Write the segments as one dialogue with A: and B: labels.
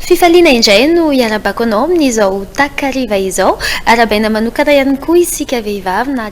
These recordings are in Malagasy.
A: Fifaliana indray no iarabako anao amin'izao takariva izao. Arahabaina manokana ihany koa isika vehivavy na.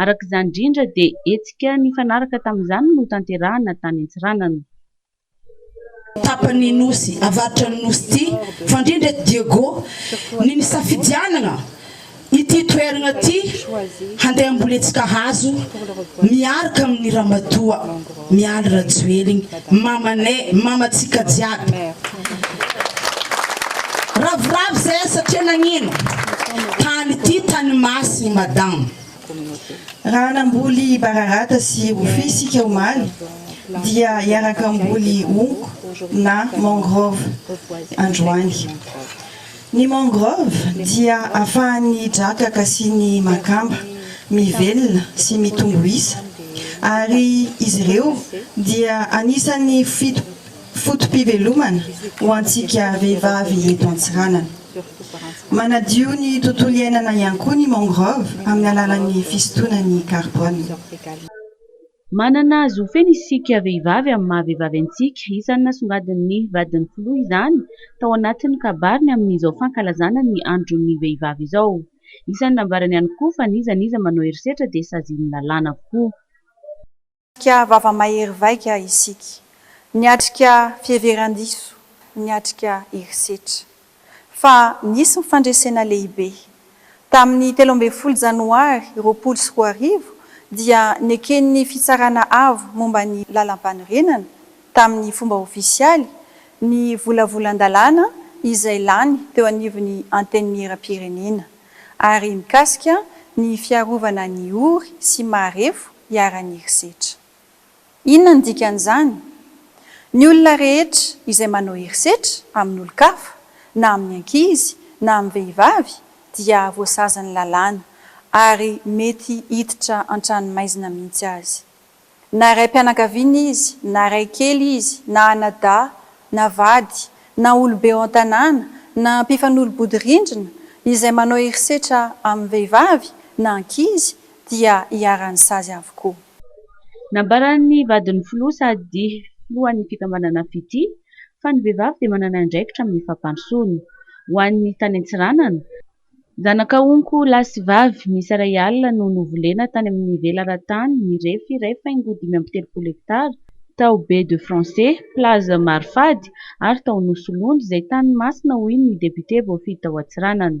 B: Araka izany indrindra dia hetsika nifanaraka tamin'izany no tanterahina tany Antsiranana. Tapany
C: Nosy, avaritra ny Nosy ity, fandrindra eto Diego, ny nisafidianana ity toerana ity handeha hambolentsika hazo miaraka amin'ny ramatoa. Mialy Rajoelina mamanay mamantsika jiaby. Ravoravo zahay satria nagnino? Tany ity tany masina madama.
D: Raha namboly bararata sy rofia isika omaly dia hiaraka hamboly honko na mangrove androany. Ny mangrove dia afahan'ny drakaka sy ny makamba mivelona sy mitombo isa ary izy ireo dia anisan'ny foto-pivelomana ho antsika vehivavy eto Antsiranana. Manadio ny tontolo iainana ihany koa ny mangrove amin'ny alalan'ny fisintonany carbone.
B: Manana zo feno isika vehivavy amin'ny maha vehivavy antsika. Isan'ny nasongadin'ny vadin'ny filoha izany tao anatin'ny kabariny amin'izao fankalazana ny andron'ny vehivavy izao. Isan'ny nambarany ihany koa fa n'iza n'iza manao herisetra dia sazin'ny lalàna avokoa. Niatrika
E: vava-mahery vaika isika. Niatrika fiheveran-diso. Niatrika herisetra. fa nisy ny fandresena lehibe. Tamin'ny telo ambin'ny folo Janoary roapolo sy roa arivo dia neken'ny Fitsarana Avo momba ny Lalampanorenana, tamin'ny fomba ofisialy, ny volavolan-dalàna izay lany teo anivon'ny Antenimierampirenena ary mikasika ny fiarovana ny ory sy marefo iharan'ny herisetra. Inona no dikan'izany? Ny olona rehetra izay manao herisetra amin'olon-kafa, na amin'ny ankizy na amin'ny vehivavy, dia voasazan'ny lalàna, ary mety hiditra an-tranomaizina mihitsy aza. Na raim-pianakaviana izy, na ray kely izy, na anadahy, na vady, na olobe ao an-tanàna, na mpifanolo-bodirindrina izay manao herisetra amin'ny vehivavy, na ankizy, dia iharan'ny sazy avokoa. Nambaran'ny
B: vadin'ny filoha sady filohan'ny fikambanana FIT fa ny vehivavy dia manana andraikitra amin'ny fampandrosoana. Ho an'ny tany Antsiranana, zanaka onko lahy sy vavy miisa iray alina no novolena tany amin'ny velaran-tany mirefy iray faingo dimy amby telopolo hektara tao Baie de Français, Plage Marifady ary tao Nosilondry izay tany masina hoy ny depiote voafidy tao Antsiranana.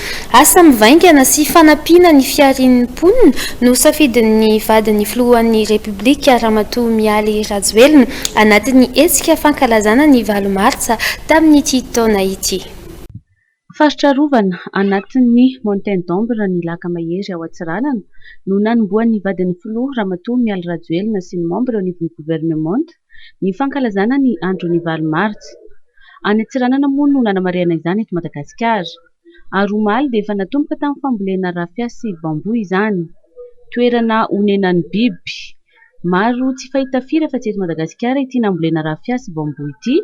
A: Asa mivaingana sy fanampiana ny fiharian'ny mponina no safidin'ny vadin'ny filohan'ny Repoblika Ramatoa Mialy Rajoelina anatin'ny hetsika fankalazana ny valo martsa tamin'ity taona ity. Faritra
B: arovana anatin'ny Mountain d'Ombre ny Laka Mahery ao Antsiranana no nanombohan'ny vadin'ny filoha Ramatoa Mialy Rajoelina sy ny membre-n'ny governemanta, ny fankalazana ny andron'ny valo martsa. Any Antsiranana moa no nanamarihana izany eto Madagasikara. Ary omaly dia efa natomboka tamin'ny fambolena rafia sy bambou izany. Toerana onenan'ny biby maro tsy fahita firy afa-tsy eto Madagasikara ity nambolena rafia sy bambou ity.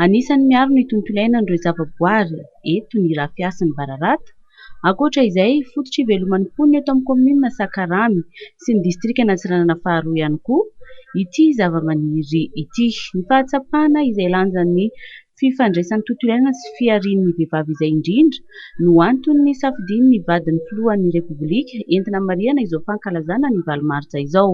B: Anisan'ny miaro ny tontolo iainan'ireo zavaboary eto ny rafia sy ny bararata. Ankoatra izay, fototra iveloman'ny mponina eto amin'ny kaominina Sakaramy sy ny distrikan'Antsiranana faharoa ihany koa ity zavamaniry ity. Ny fahatsapana izay lanjan'ny fifandraisan'ny tontolo iainana sy fiharian'ny vehivavy izay indrindra no antony nisafidian'ny vadin'ny filohan'ny Repoblika entina hamarihana izao fankalazana ny valo martsa izao.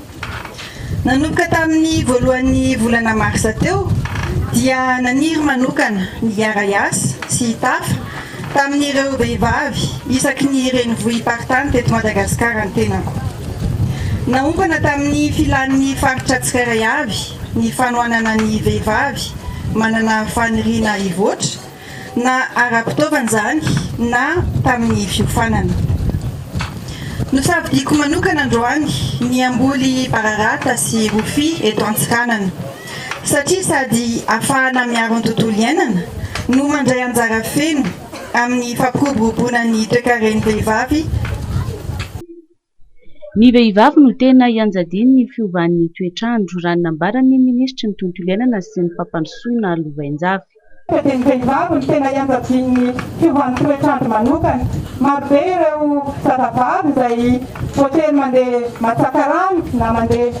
D: Nanomboka tamin'ny voalohan'ny volana marsa teo dia naniry manokana ny RIAS sy i Tafa tamin'ireo vehivavy isaky ny renivohi-paritany teto Madagasikara ny tenako. Naompana tamin'ny filan'ny faritra tsirairay avy ny fanohanana ny vehivavy manana faniriana hivoatra, na ara-pitaovana izany na tamin'ny fiofanana. Nosafidiako manokana androany ny hamboly bararata sy rofia eto Antsiranana satria sady afahana miaro ny tontolo iainana no mandray anjara feno amin'ny fampiroboroboana ny toekaren'ny vehivavy
B: Ny vehivavy no tena ianjadian'ny fiovan'ny toetr'andro, raha ny nambaran'ny minisitry ny Tontolo iainana sy ny fampandrosoana lovainjafy. Dia ny
F: vehivavy no tena ianjadian'ny fiovan'ny toetr'andro manokana. Marobe ireo zazavavy izay voatery mandeha matsaka rano na mandeha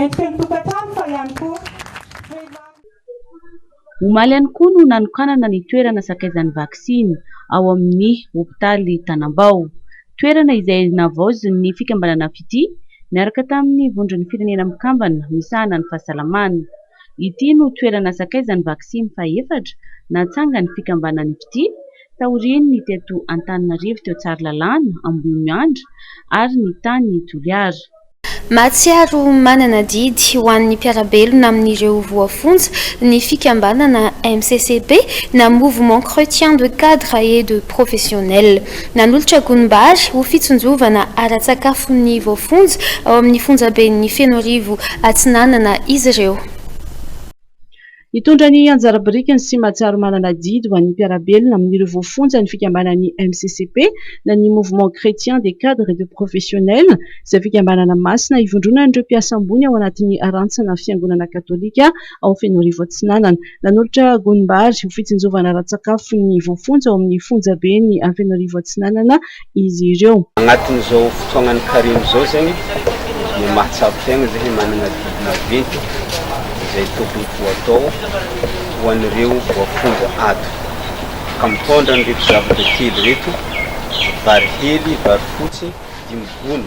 F: Endriky ny tokantrano fa ihany koa
B: vehivavy. Omaly ihany koa no nanokanana ny toerana sakaizan'ny vaksiny ao amin'ny hopitaly Tanambao. Toerana izay navaozin'ny fikambanana Fitia niaraka tamin'ny Vondron'ny Firenena Mikambana misahana ny Fahasalamana. Ity no toerana sakaizan'ny vaksiny fahefatra natsangan'ny fikambanan'ny Fitia taorian'ny teto Antananarivo teo Tsaralalàna, Ambohimiandra ary ny tany Toliara. Mahatsiaro
A: manana adidy ho an'ny mpiara-belona amin'ireo voafonja ny fikambanana MCCP na Mouvement Chretien de Cadres et de Professionnels. Nanolotra gonim-bary ho fitsinjovana ara-tsakafo ny voafonja ao amin'ny fonjaben'ny Fenoarivo Atsinanana izy ireo. Hitondra
G: ny anjara birikiny sy mahatsiaro manana didy ho an'ny mpiara-belona amin'ireo voafonja ny fikambanan'ny MCCP na ny Mouvement Chrétien des Cadres et des Professionnels izay fikambanana masina ivondronan'ireo mpiasa ambony ao anatin'ny rantsana Fiangonana Katolika ao Fenoarivo Atsinanana. Nanolotra gonim-bary ho fitsinjovana ara-tsakafo ny voafonja ao amin'ny fonjaben'i Fenoarivo Atsinanana izy ireo. Agnatin'izao fotoagnan'ny
H: karemy izao zegny no mahatsapa tegna zay hoe managna didy maventy izay tokony ho atao ho an'ireo voafonja ato, ka mitondra an'ireto zavatra telo ireto, vary hely, vary fotsy, dimy gony.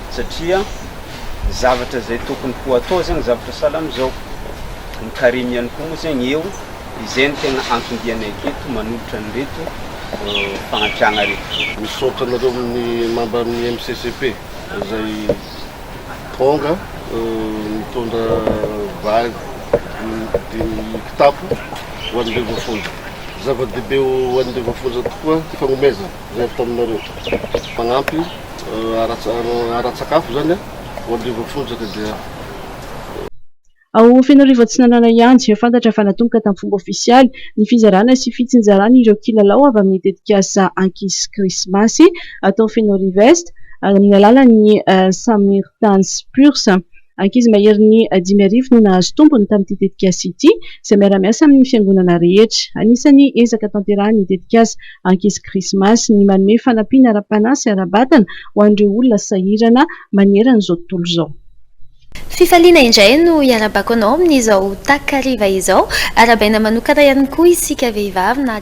H: satria ny zavatra izay tokony ho atao zegny zavatra sahala amizao, ny carime ihany koa moa zegny eo, izay no tegna anton-dianay aketo manolotra an'ireto fagnampiagna reto. Misaotra anareo amin'ny
I: mamba amin'ny MCCP izay tonga nitondra vary dimy kitapo ho an'ireo voafonja. Zava-dehibe ho an'ireo voafonja tokoa ny fagnomezana. Miady taminareo. Mpanampy ara-tsakafo izany ao Andriva Fonjaka dia.
G: Ao Fenoarivo Atsinanana ihany dia fantatra fa natomboka tamin'ny fomba ofisialy ny fizarana sy fitsinjarana ireo kilalao avy amin'ny tetikasa Ankizy sy Krismasy atao Fenoariv'Est amin'ny alalan'ny Samirtans Purs. Ankizy maherin'ny dimy arivo no nahazo tombony tamin'ity tetikasa ity, izay miara-miasa amin'ny fiangonana rehetra. Anisan'ny ezaka tanterahin'ny tetikasa Ankizy Krismasy ny manome fanampiana ara-panahy sy ara-batana ho an'ireo olona sahirana maneran'izao tontolo izao.
A: Fifaliana indray no hiarabako anao amin'izao takariva izao. Arahabaina manokana ihany koa isika vehivavy na.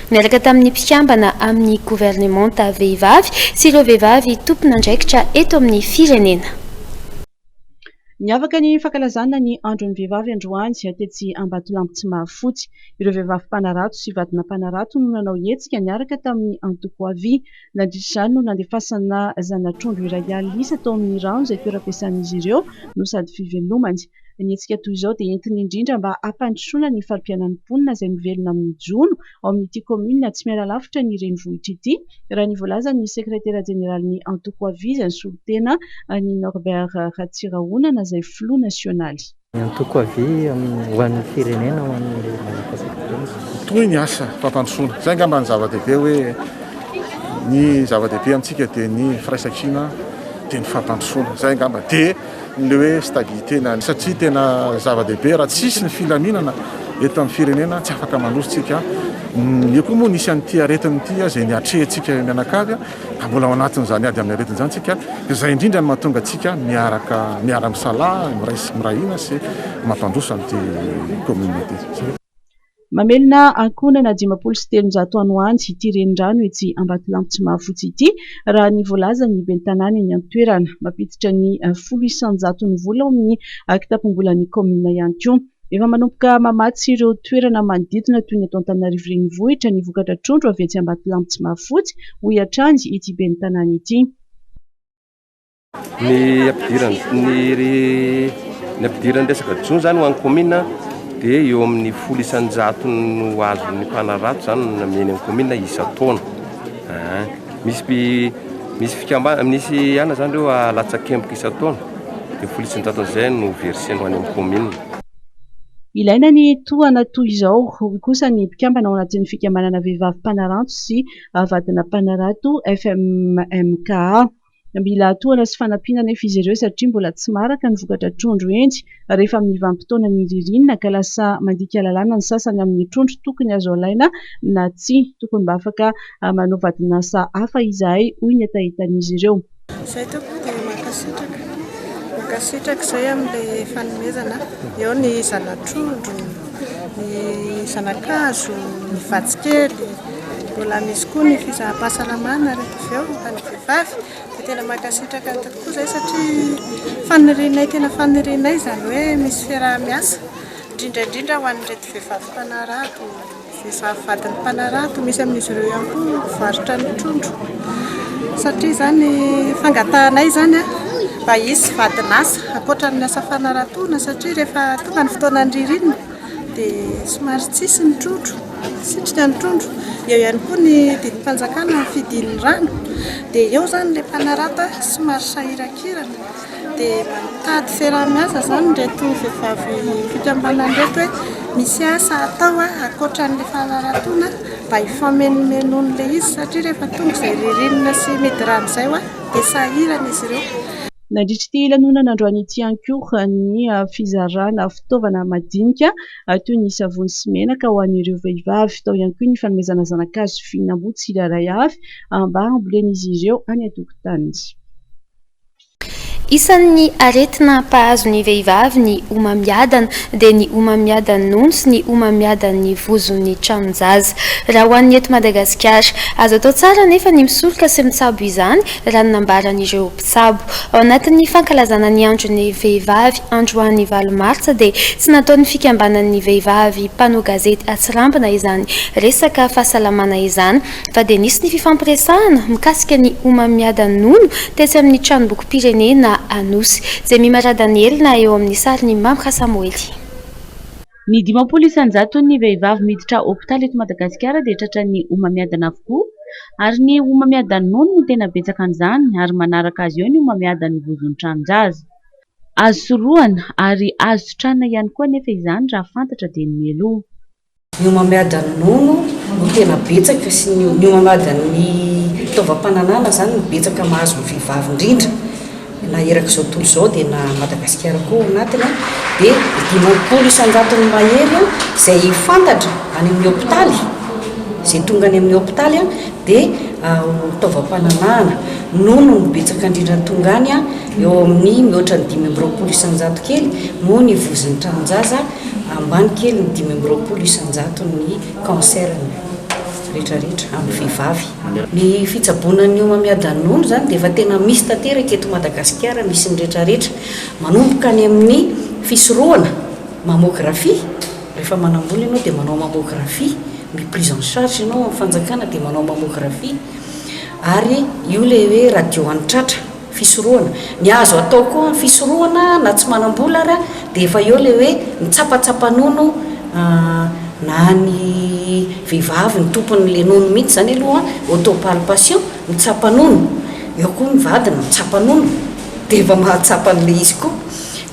A: niaraka tamin'ny mpikambana amin'ny governemanta vehivavy sy ireo vehivavy tompon'andraikitra eto amin'ny firenena. Niavaka
G: ny fankalazana ny andron'ny vehivavy androany tetsy Ambatolampy Tsimahafotsy. Ireo vehivavy mpanarato sy vadina mpanarato no nanao hetsika niaraka tamin'ny antoko Avi. Nandritra izany no nandefasana zana-trondro iray alina isa tao amin'ny rano izay toeram-piasan'izy ireo no sady fivelomany. Ny hetsika toy izao dia entina indrindra mba hampandrosoana ny fari-piainan'ny mponina izay mivelona amin'ny jono ao amin'ity kaominina tsy miala lavitra ny renivohitra ity, raha ny voalazan'ny sekretera jeneralin'ny antoko Aviz ny solontena an'i Norbert Ratsirahonana izay filoha nasionaly. Ny antoko Aviz
J: amin'ny ho an'ny firenena ho an'ny Madagasikarenina.
K: Toy ny asa fampandrosoana. Izay angamba ny zava-dehibe hoe ny zava-dehibe amintsika dia ny firaisankina dia ny fampandrosoana. Izay angamba dia. Ilay hoe stabilité na ny satria tena zava-dehibe raha tsy hisy ny filaminana eto amin'ny firenena tsy afaka mandroso tsika. Io koa moa nisy an'ity aretina ity izay niatrehantsika mianakavy ka mbola ao anatin'izany ady amin'ny aretina izany tsika. Izay indrindra no mahatonga antsika miaraka miara-misalahy miray sy mirahina sy mampandroso an'ity commune ity.
G: Mamelona ankohonana dimampolo sy telonjato ano any ity renirano etsy Ambatolampy tsy mahafotsy ity, raha ny voalazan'ny ben'ny tanàna eny an-toerana. Mampiditra ny folo isan-jatony vola ao amin'ny kitapom-bolan'ny kaominina ihany koa. Efa manomboka mamatsy ireo toerana manodidina toy ny eto Antananarivo Renivohitra ny vokatra trondro avy etsy Ambatolampy tsy mahafotsy, hoy hatrany ity ben'ny tanàna ity. Ny
L: ampidiran'ny ampidiran'ny resaka jono zany ho an'ny commune dia eo amin'ny folo isan-jato no azon'ny mpanarato zany no nameny amin'ny commune isan-taona. Ah, misy pi- misy fikambana misy ana zany ireo alatsakemboka isan-taona dia folo isan-jato an'izay no verser-ny ho any amin'ny commune.
G: Ilaina ny tohana toy izao, hoy kosa ny mpikambana ao anatin'ny fikambanana vehivavy mpanaranto sy vadina mpanarato FMMKA. Mila atohana sy fanampiana anefa izy ireo satria mbola tsy maraka ny vokatra trondro henjy rehefa amin'ny vanim-potoanan'ny ririnina ka lasa mandika lalàna ny sasany amin'ny trondro tokony azo alaina na tsia. Tokony mba afaka manao vadin'asa hafa izahay, hoy ny hetahetan'izy ireo. Izay tompoko dia
M: mankasitraka. Mankasitraka izay amin'ilay fanomezana. Eo ny zana-trondro, ny zana-kazo, ny vatsy kely. Mbola misy koa ny fisaham-pahasalamana rehefa avy eo. vavy dia tena mankasitraka tokoa izay satria fanirianay tena fanirianay izany hoe misy fiaraha-miasa indrindra indrindra ho an'ireto vehivavy mpanarato vehivavy vadin'ny mpanarato misy amin'izy ireo ihany koa mivarotra ny trondro satria izany fangatahanay izany a mba hisy vadin'asa ankoatra ny asa fanaratoana satria rehefa tonga ny fotoanan'ny ririnina dia somary tsisy ny trondro, sitrika ny trondro. Eo ihany koa ny didim-panjakana ny fidin'ny rano. Dia eo izany ilay mpanarata somary sahiran-kirana. Dia mba mitady fiaraha-miasa izany ireto vehivavy fikambanana ireto hoe misy asa atao ankoatra an'ilay fanaratoana mba hifamenomenona ilay izy satria rehefa tonga izay ririnina sy midi-rano izay dia sahirana izy ireo. Nandritra ity
G: lanonana androany ity ihany koa ny fizarana fitaovana madinika toy ny savony sy menaka ho an'ireo vehivavy. Tao ihany koa ny fanomezana zana-kazo sy fihinam-boa tsirairay avy mba hambolen'izy ireo any an-tokotaniny.
A: Isan'ny aretina mpahazo ny vehivavy ny homamiadana, dia ny homamiadan'ny nono sy ny homamiadan'ny vozon'ny tranon-jaza. Raha ho an'ny eto Madagasikara. Azo atao tsara anefa ny misoroka sy mitsabo izany, raha ny nambaran'ireo. Tsabo. Ao anatin'ny fankalazana ny andron'ny vehivavy androany valo martsa dia tsy nataon'ny fikambanan'ny vehivavy mpanao gazety atsirambina izany resaka fahasalamana izany fa dia nisy ny fifampiresahana mikasika ny homamiadan-nono tetsy amin'ny tranombokim-pirenena Anosy. Jemima Radanelina eo amin'ny sarin'i Mamrha Samoely.
B: Ny dimampolo isan-jaton'ny vehivavy miditra hopitaly eto Madagasikara dia tratran'ny homamiadana avokoa ary ny homamiadan'ny nono no tena betsaka amin'izany ary manaraka azy eo ny homamiadan'ny vozon'ny tranonjaza. Azo sorohana ary azo sitranina ihany koa anefa izany raha fantatra dia ny mialoha.
N: Ny homamiadan'ny nono no tena betsaka sy ny homamiadan'ny fitaovam-pananahana izany no betsaka mahazo ny vehivavy indrindra. Na erak'izao tontolo izao dia na Madagasikara koa ao anatiny dia dimampolo isan-jatony mahery izay fantatra any amin'ny hopitaly, izay tonga any amin'ny hopitaly dia ho taovam-pananahana noho ny betsaka indrindra ny tonga any eo amin'ny mihoatra ny dimy amby roapolo isan-jato kely noho ny vozon'ny tranon-jaza ambany kely ny dimy amby roapolo isan-jaton'ny cancer retraretra amin'ny vehivavy. Ny fitsaboana ny homamiadanonolo izany dia efa tena misy tanteraka eto Madagasikara, misy ny retraretra. Manomboka any amin'ny fisorohana, mamographie, rehefa manam-bola ianao dia manao mamographie, mi prise en charge ianao amin'ny fanjakana dia manao mamographie, ary io ilay hoe radio any tratra. fisorohana. Ny azo atao koa amin'ny fisorohana na tsy manam-bola ary dia efa eo ilay hoe ny tsapatsapa nono na ny vehivavy ny tompon'ilay nono mihitsy izany aloha an, autopalpation, mitsapa nono, eo koa ny vadiny mitsapa nono dia efa mahatsapa an'ilay izy koa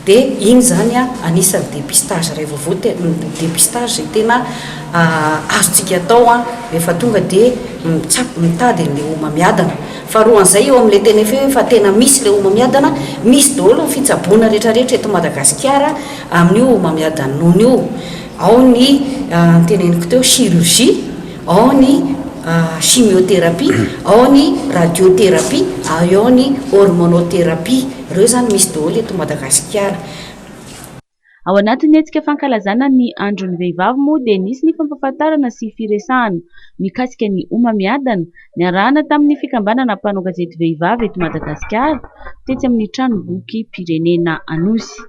N: dia iny izany an anisan'ny dépistage iray vaovao tena dépistage izay tena azontsika atao an rehefa tonga dia mitsapa, mitady an'ilay homamiadana Faharoan'izay eo amin'ilay teny efa eo efa tena misy ilay homamiadana, misy daholo ny fitsaboana rehetrarehetra eto Madagasikara amin'io homamiadan'ny nono io. Ao ny noteneniko teo chirurgie, ao ny chimiothérapie, ao ny radiothérapie ary ao ny hormonothérapie. Ireo izany misy daholo eto Madagasikara.
B: Ao anatin'ny hetsika fankalazana ny andron'ny vehivavy moa dia nisy ny fampahafantarana sy firesahana mikasika ny homamiadana niarahana tamin'ny fikambanana mpanao gazety vehivavy eto Madagasikara tetsy amin'ny tranombokim-pirenena Anosy.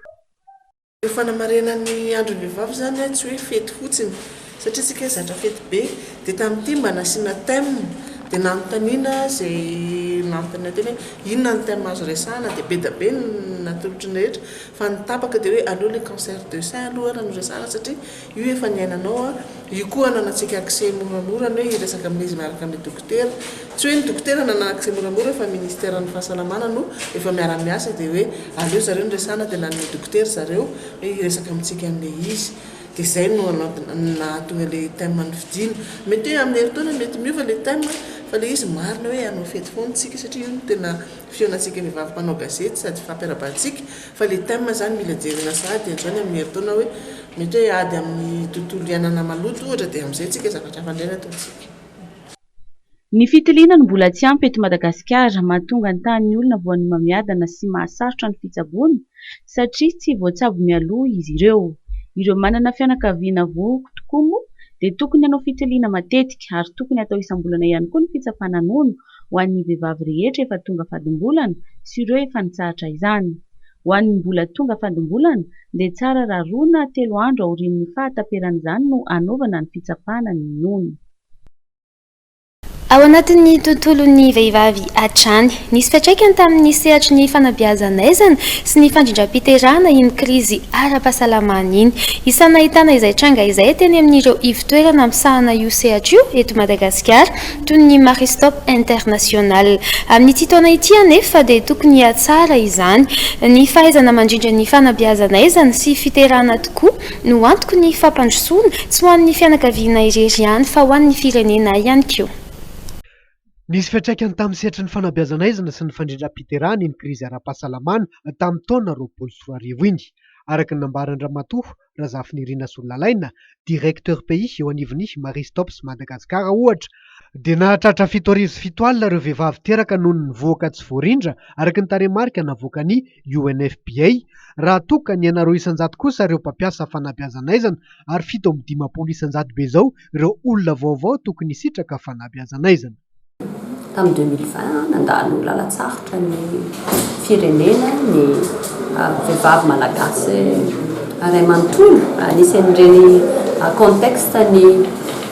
B: Ny
M: fanamarinan'ny andron'ny vehivavy izany tsy hoe fety fotsiny Satria tsika zatra fety be dia tamin'ity mba nasiana thème dia nanontaniana izay nanontaniana teny hoe inona ny thème azo resahana dia be dia be ny natolotry ny rehetra fa ny tapaka dia hoe aleo ilay cancer de sein aloha ara no resahana satria io efa niainanao an, io koa ananantsika accès moramora ny hoe hiresaka amin'izy miaraka amin'ny dokotera, tsy hoe ny dokotera no hanana accès moramora fa ministère ny fahasalamana no efa miara miasa dia hoe aleo zareo no resahana dia nanome dokotera zareo hoe hiresaka amintsika an'ilay izy. Dia izay no nahatonga ilay thème nofidina. Mety hoe amin'ny herintaona mety miova ilay thème fa ilay izy marina hoe hanao fety foana isika satria io no tena fihaonantsika vehivavy mpanao gazety sady fampiarabantsika fa ilay thème izany mila jerena sahady hatrany amin'ny herintaona hoe mety hoe ady amin'ny tontolo iainana maloto ohatra dia amin'izay isika zavatra hafa indray no ataontsika.
B: Ny fitiliana no mbola tsy ampy eto Madagasikara, mahatonga ny tahan'ny olona voan'ny homamiadana sy mahasarotra ny fitsaboana satria tsy voatsabo mialoha izy ireo. Ireo manana fianakaviana vohoka tokoa moa dia tokony hanao fitiliana matetika ary tokony hatao isam-bolana ihany koa ny fitsapana nono ho an'ny vehivavy rehetra efa tonga fadim-bolana sy ireo efa nitsahatra izany. Ho an'ny mbola tonga fadim-bolana dia tsara raha roa na telo andro aorian'ny fahataperan'izany no hanaovana ny fitsapana ny nono.
A: Ao anatin'ny tontolon'ny vehivavy hatrany. Nisy fiantraikany tamin'ny sehatry ny fanabeazan'aizana sy ny fandrindram-piterahana iny krizy ara-pahasalamana iny. Isan'ny nahitana izay tranga izay teny amin'ireo ivotoerana misahana io sehatra io eto Madagasikara, toy ny Maristop International. Amin'ity taona ity anefa dia tokony hihatsara izany ny fahaizana mandrindra ny fanabeazan'aizana sy fiterahana tokoa, no antoky ny fampandrosoana, tsy ho an'ny fianakaviana irery ihany fa ho an'ny firenena ihany koa.
O: Nisy fiantraikany tamin'ny sehatry ny fanabeazan'aizina sy ny fandrindram-piterahana iny krizy ara-pahasalamana tamin'ny taona roapolo sy roa arivo iny, araka ny nambaran-dRamatoa Razafinirina Sololalaina, Directeur pays eo anivon'ny Marie Stopes Madagascar ohatra, dia nahatratra fito arivo sy fito alina ireo vehivavy teraka noho ny vohoka tsy voarindra, araka ny tarehimarika navoakan'ny. UNFPA, raha toa ka ny anareo isan-jato kosa ireo mpampiasa fanabeazan'aizana ary fito amby dimampolo isan-jato be izao ireo olona vaovao tokony hisitraka fanabeazan'aizana. Tamin'ny
P: deux mille vingt, nandalo lalan-tsarotra ny firenena ny vehivavy malagasy iray manontolo. Anisan'ireny contexte ny.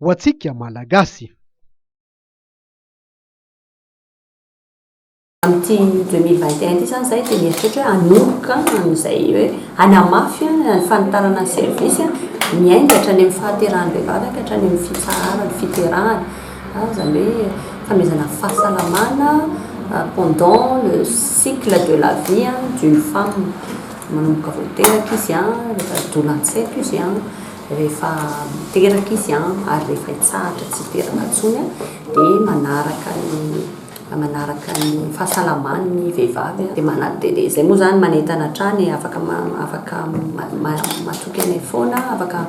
O: ho antsika Malagasy. Amin'ity
P: deux mille vingt et un ity izany izahay dia mieritreritra hoe hanomboka amin'izay hoe hanamafy ny fanitarana ny servisy miainga hatrany amin'ny fahaterahan'ny vehivavy ka hatrany amin'ny fitsaharana, fiterahana. Izany hoe fanomezana fahasalamana pendant le cycle de la vie d'une femme. Manomboka vao teraka izy, rehefa doula an-tsaiko izy. Rehefa miteraka izy ary rehefa hitsahatra tsy hiteraka intsony dia manaraka ny manaraka ny fahasalamany ny vehivavy dia manat dia izay moa izany manentana hatrany afaka afaka matoky anay foana afaka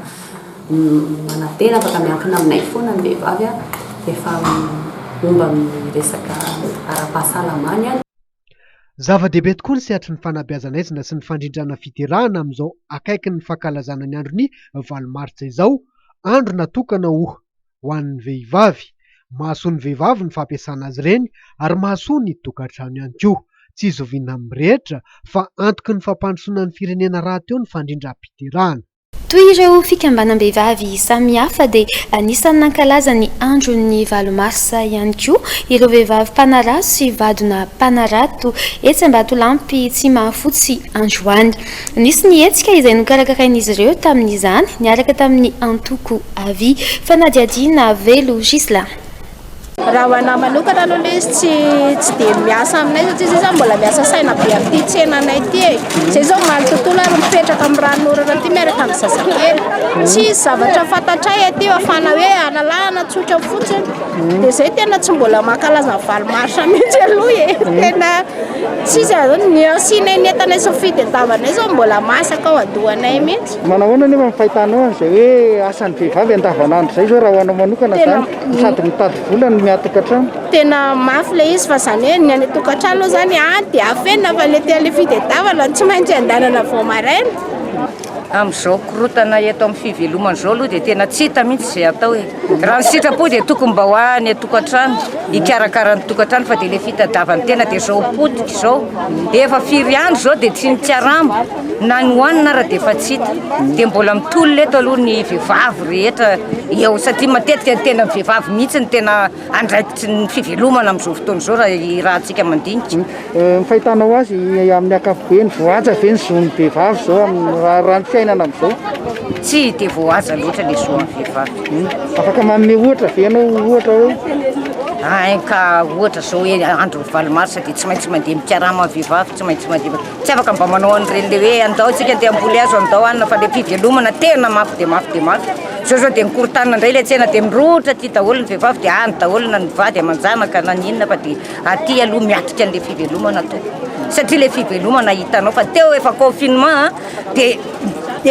P: manantena afaka miankina aminay foana ny vehivavy rehefa momba amin'ny resaka ara-pahasalamany
O: Zava-dehibe tokoa ny sehatry ny fanabeazan'aizina sy ny fandrindrana fiderana amin'izao akaikin'ny fankalazana ny andron'ny valo martsa izao, andro natokana ho an'ny vehivavy. Mahasoa ny vehivavy ny fampiasana azy ireny ary mahasoa ny tokantrano ihany koa. Tsy zoviana amin'ny rehetra fa antoky ny fampandrosoana ny firenena rahateo ny fandrindram-piderana. Toy ireo
A: fikambanam-behivavy samihafa dia anisan'ny nankalaza ny andron'ny valo marsa ihany koa ireo vehivavy mpanarato sy vadona mpanarato etsy Ambatolampy Tsimahafotsy androany. Nisy ny hetsika izay nokarakarain'izy ireo tamin'izany niaraka tamin'ny antoko Avi. Fanadihadiana Velo Ghislain. Raha ho
Q: anah manokana aloha ilay izy tsy tsy dia miasa aminay satria izay zany mbola miasa saina be amin'ity tsenanay ity e. Izay izao omaly tontolo ary mipetraka amin'ny ranon'orana aty miaraka amin'ny zazakely. Tsy hisy zavatra fantatray aty fa fa na hoe analahana tsotra fotsiny. Dia izay tena tsy mbola mankalaza ny valo marsa mihitsy aloha e. Tena tsisy izany ny asianay ny entanay sy ny fitadiavanay izao mbola masaka ao an-dohanay mihitsy. Manao ahoana nefa ny fahitanao
R: an'izay hoe asan'ny vehivavy andavanandro izay izao raha ho anao manokana izany? Sady mitady vola no miatoka trano. Tena mafy
Q: ilay izy fa izany hoe ny any an-tokantrano aloha izany any dia afenina fa ny aty amin'ny fitadiavana tsy maintsy andehanana vao maraina. Amin'izao
S: korontana eto amin'ny fivelomana izao aloha dia tena tsy hita mihitsy izay atao e! Raha ny sitrapo dia tokony mba ho any an-tokantrano hikarakara ny tokantrano fa dia ilay fitadiavan-tena dia izao potika izao, efa firy andro izao dia tsy ny karama. Na nohanina ary dia efa tsy hita. Dia mbola mitolona eto aloha ny vehivavy rehetra eo satria matetika ny tenan'ny vehivavy mihitsy no tena andraikitry ny fivelomana amin'izao fotoana izao raha ny rahantsika mandinika. Ny fahitanao
R: azy amin'ny ankapobeny, voahaja ve ny zon'ny vehivavy izao amin'ny raharahàn'ny fiainana amin'izao? Tsy dia
S: voahaja loatra ilay zon'ny vehivavy. Afaka manome
R: ohatra ve ianao ohatra hoe? Hay ka
S: ohatra izao hoe andron'ny valo marsa dia tsy maintsy mandeha mikarama ny vehivavy, tsy maintsy mandeha. Tsy afaka mba manao an'ireny le hoe andao antsika andeha hamboly hazo andao hanina fa le fivelomana tena mafy dia mafy dia mafy. Zao zao dia nikorontanina indray ilay tsena dia mirohotra aty daholo ny vehivavy dia any daholo na ny vady aman-janaka na ny inona fa dia aty aloha miatrika an'ilay fivelomana tompoko. Satria ilay fivelomana hitanao fa teo efa confinement dia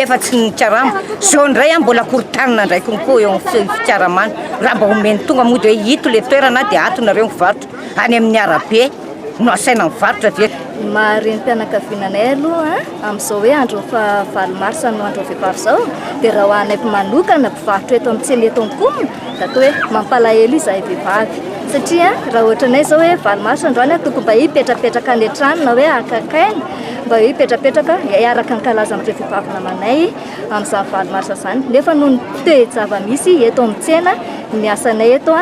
S: efa tsy nikarama. Zao indray mbola korontanina indray konko eo amin'ny fikaramana. Raha mba omen'ny tonga moa dia hoe ito ilay toerana dia ato nareo mivarotra any amin'ny arabe. no asaina mivarotra ve? Ny maha renim-pianakaviana
T: anay aloha amin'izao hoe andron'ny faha valo mars no andron'ny vehivavy izao dia raha ho anay manokana mpivarotra eto amin'ny tsena eto Ankomy dia atao hoe mampalahelo izahay vehivavy satria raha ohatranay izao hoe valo mars androany tokony mba hipetrapetraka any an-trano na hoe akaiky aina mba hoe hipetrapetraka hiaraka hankalaza amin'ireo vehivavy namanay amin'izany valo mars izany nefa noho ny toe-java-misy eto amin'ny tsena Ny asanay eto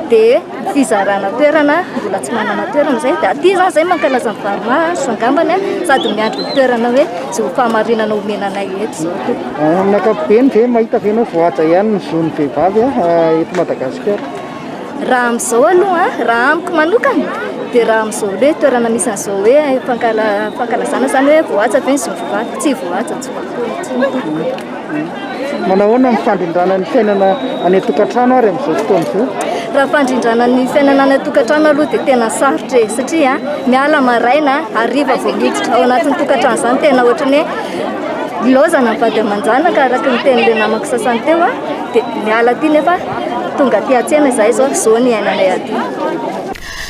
T: dia fizarana toerana, mbola tsy manana toerana izay, dia aty izany izay mankalaza ny varimaso angambany sady miandry ny toerana hoe izao fahamarinana omena anay eto izao koa. Amin'ny ankapobeny
R: ve mahita ve ianao voahaja ihany ny zon'ny vehivavy eto Madagasikara? Raha
T: amin'izao aloha, raha amiko manokana dia raha amin'izao hoe toerana misy an'izao hoe fankala- fankalazana izany hoe voahaja ve ny zon'ny vehivavy, tsy voahaja intsony.
R: Manahoana ny fandrindrana ny fiainana any an-tokantrano ary amin'izao fotoana izao? Raha fandrindrana
T: ny fiainana any an-tokantrano aloha dia tena sarotra e, satria miala maraina, hariva vao miditra ao anatin'ny tokantrano izany, tena ohatran'ny hoe ilaozana ny vady aman-janaka araka ny tenin'ilay namako sasany teo, dia miala aty nefa tonga aty an-tsena izahay izao, izao ny iainanay aty.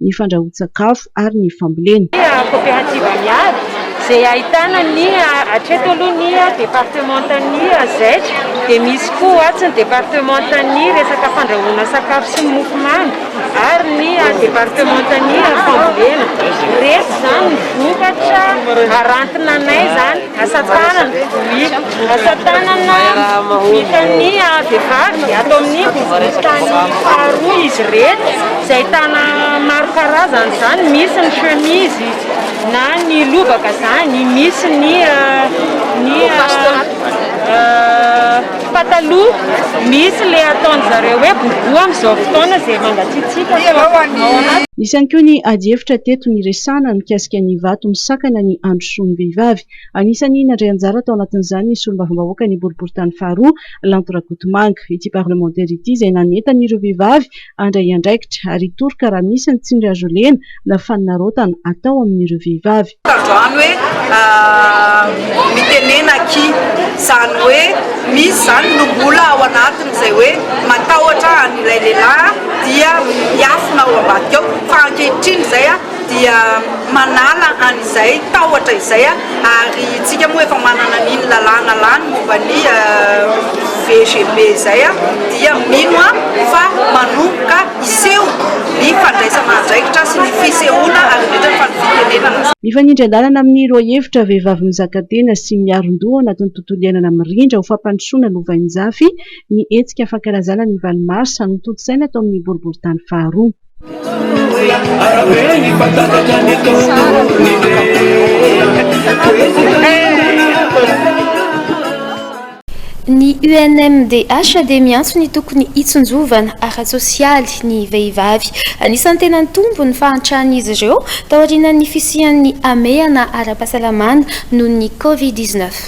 B: ny fandrahoan-tsakafo ary ny fambolena. Koperativa
U: Miaro izay ahitana ny hatreto aloha ny departemantan'ny Zec dia misy koa atsy ny departemantan'ny resaka fandrahoana sakafo sy ny mofomamy ary ny departemantan'ny fambolena. Ireto izany ny vokatra harantinanay izany. Asa tanana, vohiko, asa tanana vitan'ny vehivavy ato amin'ny boriborintany faharoa izy ireto izay ahitana maro karazany izany, misy ny chemise na ny lobaka izany, misy ny ny pataloha, misy ilay ataon-dry zareo hoe boubou amin'izao fotoana izay mangatsiatsiaka.
B: Nisy ihany koa ny adihevitra teto niresahana mikasika ny vato misakana ny andro fototry ny vehivavy. Anisan'ny nandray anjara tao anatin'izany ny solombavambahoakan'ny boriborintany faharoa, Lanto Rakotomanga. Ity parlemantera ity izay nanentana ireo vehivavy handray andraikitra ary hitoroka raha misy ny tsindry azo lena na fanarotana atao amin'ireo vehivavy. Tandroany hoe
V: mitenena aky zany hoe misy zany lombola ao anatiny zay hoe matahotra an'ilay lehilahy dia miafina ao ambadika ao fa ankehitriny zay dia manala an'izay tahotra izay ary tsika moa efa manana an'iny lalàna lany momba ny VGB izay dia mino aho fa manomboka hiseho ny fandraisana andraikitra sy ny fisehoana arenetra fa ny fitenenana Mifanindry an-dalana amin'ny
B: lohahevitra Vehivavy mizaka tena sy miarin-doha ao anatin'ny tontolo iainana mirindra ho fampandrosoana lovainjafy ny hetsika fankalazana ny valo marsa notontosaina tao amin'ny Boriborintany faharoa.
A: Ny UNMDH dia miantso ny tokony hitsinjovana ara-tsosialy ny vehivavy. Anisan'ny tena nitombo ny fahantràn'izy ireo taorian'ny fisian'ny hamehana ara-pahasalamana noho ny Covid dix-neuf.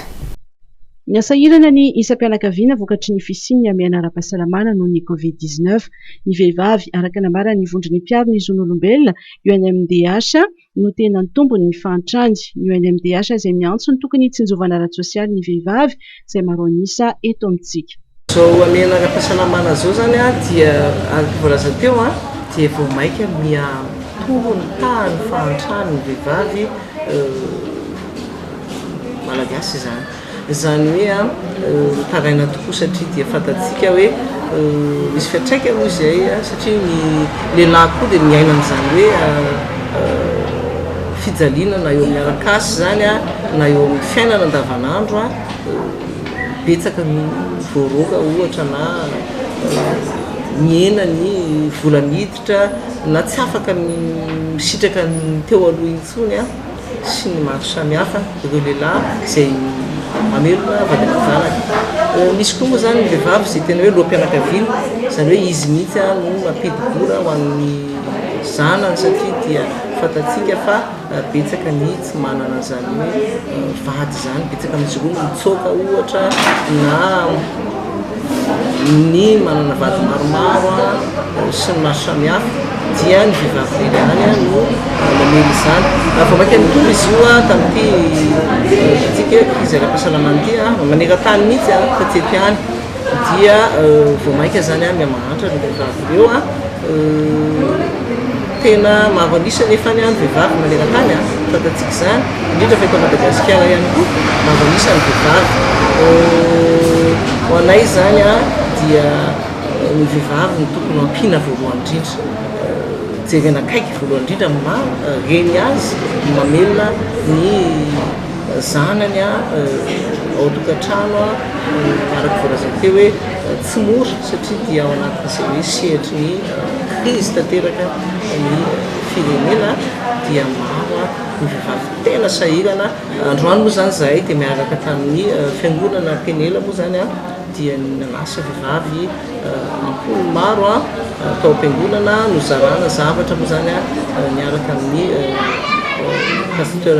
B: Miha sahirana ny isam-pianakaviana vokatry ny fisian'ny hamehana ara-pahasalamana noho ny Covid dix neuf ny vehivavy, araka ny nambaran'ny vondron'ny mpiaro ny zon'olombelona UNMDH no tena antombony ny fahantrany. Ny UNMDH izay miantso ny tokony hitsinjovana ara-tsosialy ny vehivavy izay maro an'isa eto amintsika. Izao hamehana
W: ara-pahasalamana izao izany dia, araka ny voalaza teo, dia vao mainka miha-mitohy ny tahan'ny fahantran'ny vehivavy malagasy izany. Izany hoe mitaraina tokoa satria dia fantatsika hoe misy fiantraikany moa izay satria ny lehilahy koa dia miaina an'izany hoe fijaliana na eo amin'ny arak'asa izany na eo amin'ny fiainana andavanandro. Betsaka ny voaroaka ohatra na nihena ny vola niditra na tsy afaka ny misitraka ny teo aloha intsony sy ny maro samihafa ireo lehilahy izay mamelona vady aman-janaka. Misy koa moa izany ny vehivavy izay tena hoe loham-pianakaviana, izany hoe izy mihitsy no mampidi-bola ho an'ny zanany satria dia fantatsika fa Betsaka ny tsy manana izany hoe vady izany, betsaka amin'izy ireo no mitsoaka ohatra na ny manana vady maromaro sy ny maro samihafa dia ny vehivavy tena ihany no mamely izany. Raha vao mainka nitory izy io tamin'ity tika krizy ara-pahasalamana ity maneran-tany mihitsy taty an-tiany dia vao mainka izany miha mahantra ireo vehivavy ireo. Tena maro an'isa anefa ny vehivavy maneran-tany a, fantatsika izany, indrindra fa eto Madagasikara ihany koa, maro an'isa ny vehivavy. Ho anay izany a, dia ny vehivavy no tokony ho ampiana voalohany indrindra, jerena akaiky voalohany indrindra ny maha reny azy, ny mamelona ny zanany a, ao an-tokantrano a, araka voalaza teo hoe tsy mora satria dia ao anatin'izay hoe sehatry ny. Izy tanteraka ny firenena dia maro ny vehivavy tena sahirana androany moa izany izahay dia miaraka tamin'ny fiangonana Penela moa izany an dia nanasa vehivavy ampolony maro an tao am-piangonana nozarana zavatra moa izany an niaraka amin'ny pasteur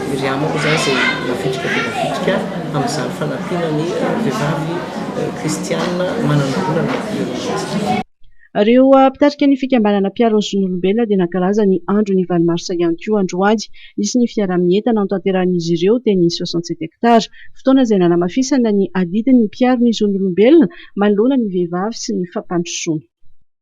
W: Miriama moa izany izay navitrika dia navitrika amin'izany fanampiana ny vehivavy kristiana manana olana
G: teolojika. Ireo mpitarika ny fikambanana mpiaro ny zon'olombelona dia nankalaza ny andron'ny valo marsa ihany koa androany. Nisy ny fiaraha-mientana notanterahin'izy ireo teny soixante sept hectares, fotoana izay nanamafisana ny adidin'ny mpiaro ny zon'olombelona manoloana ny vehivavy sy ny fampandrosoana.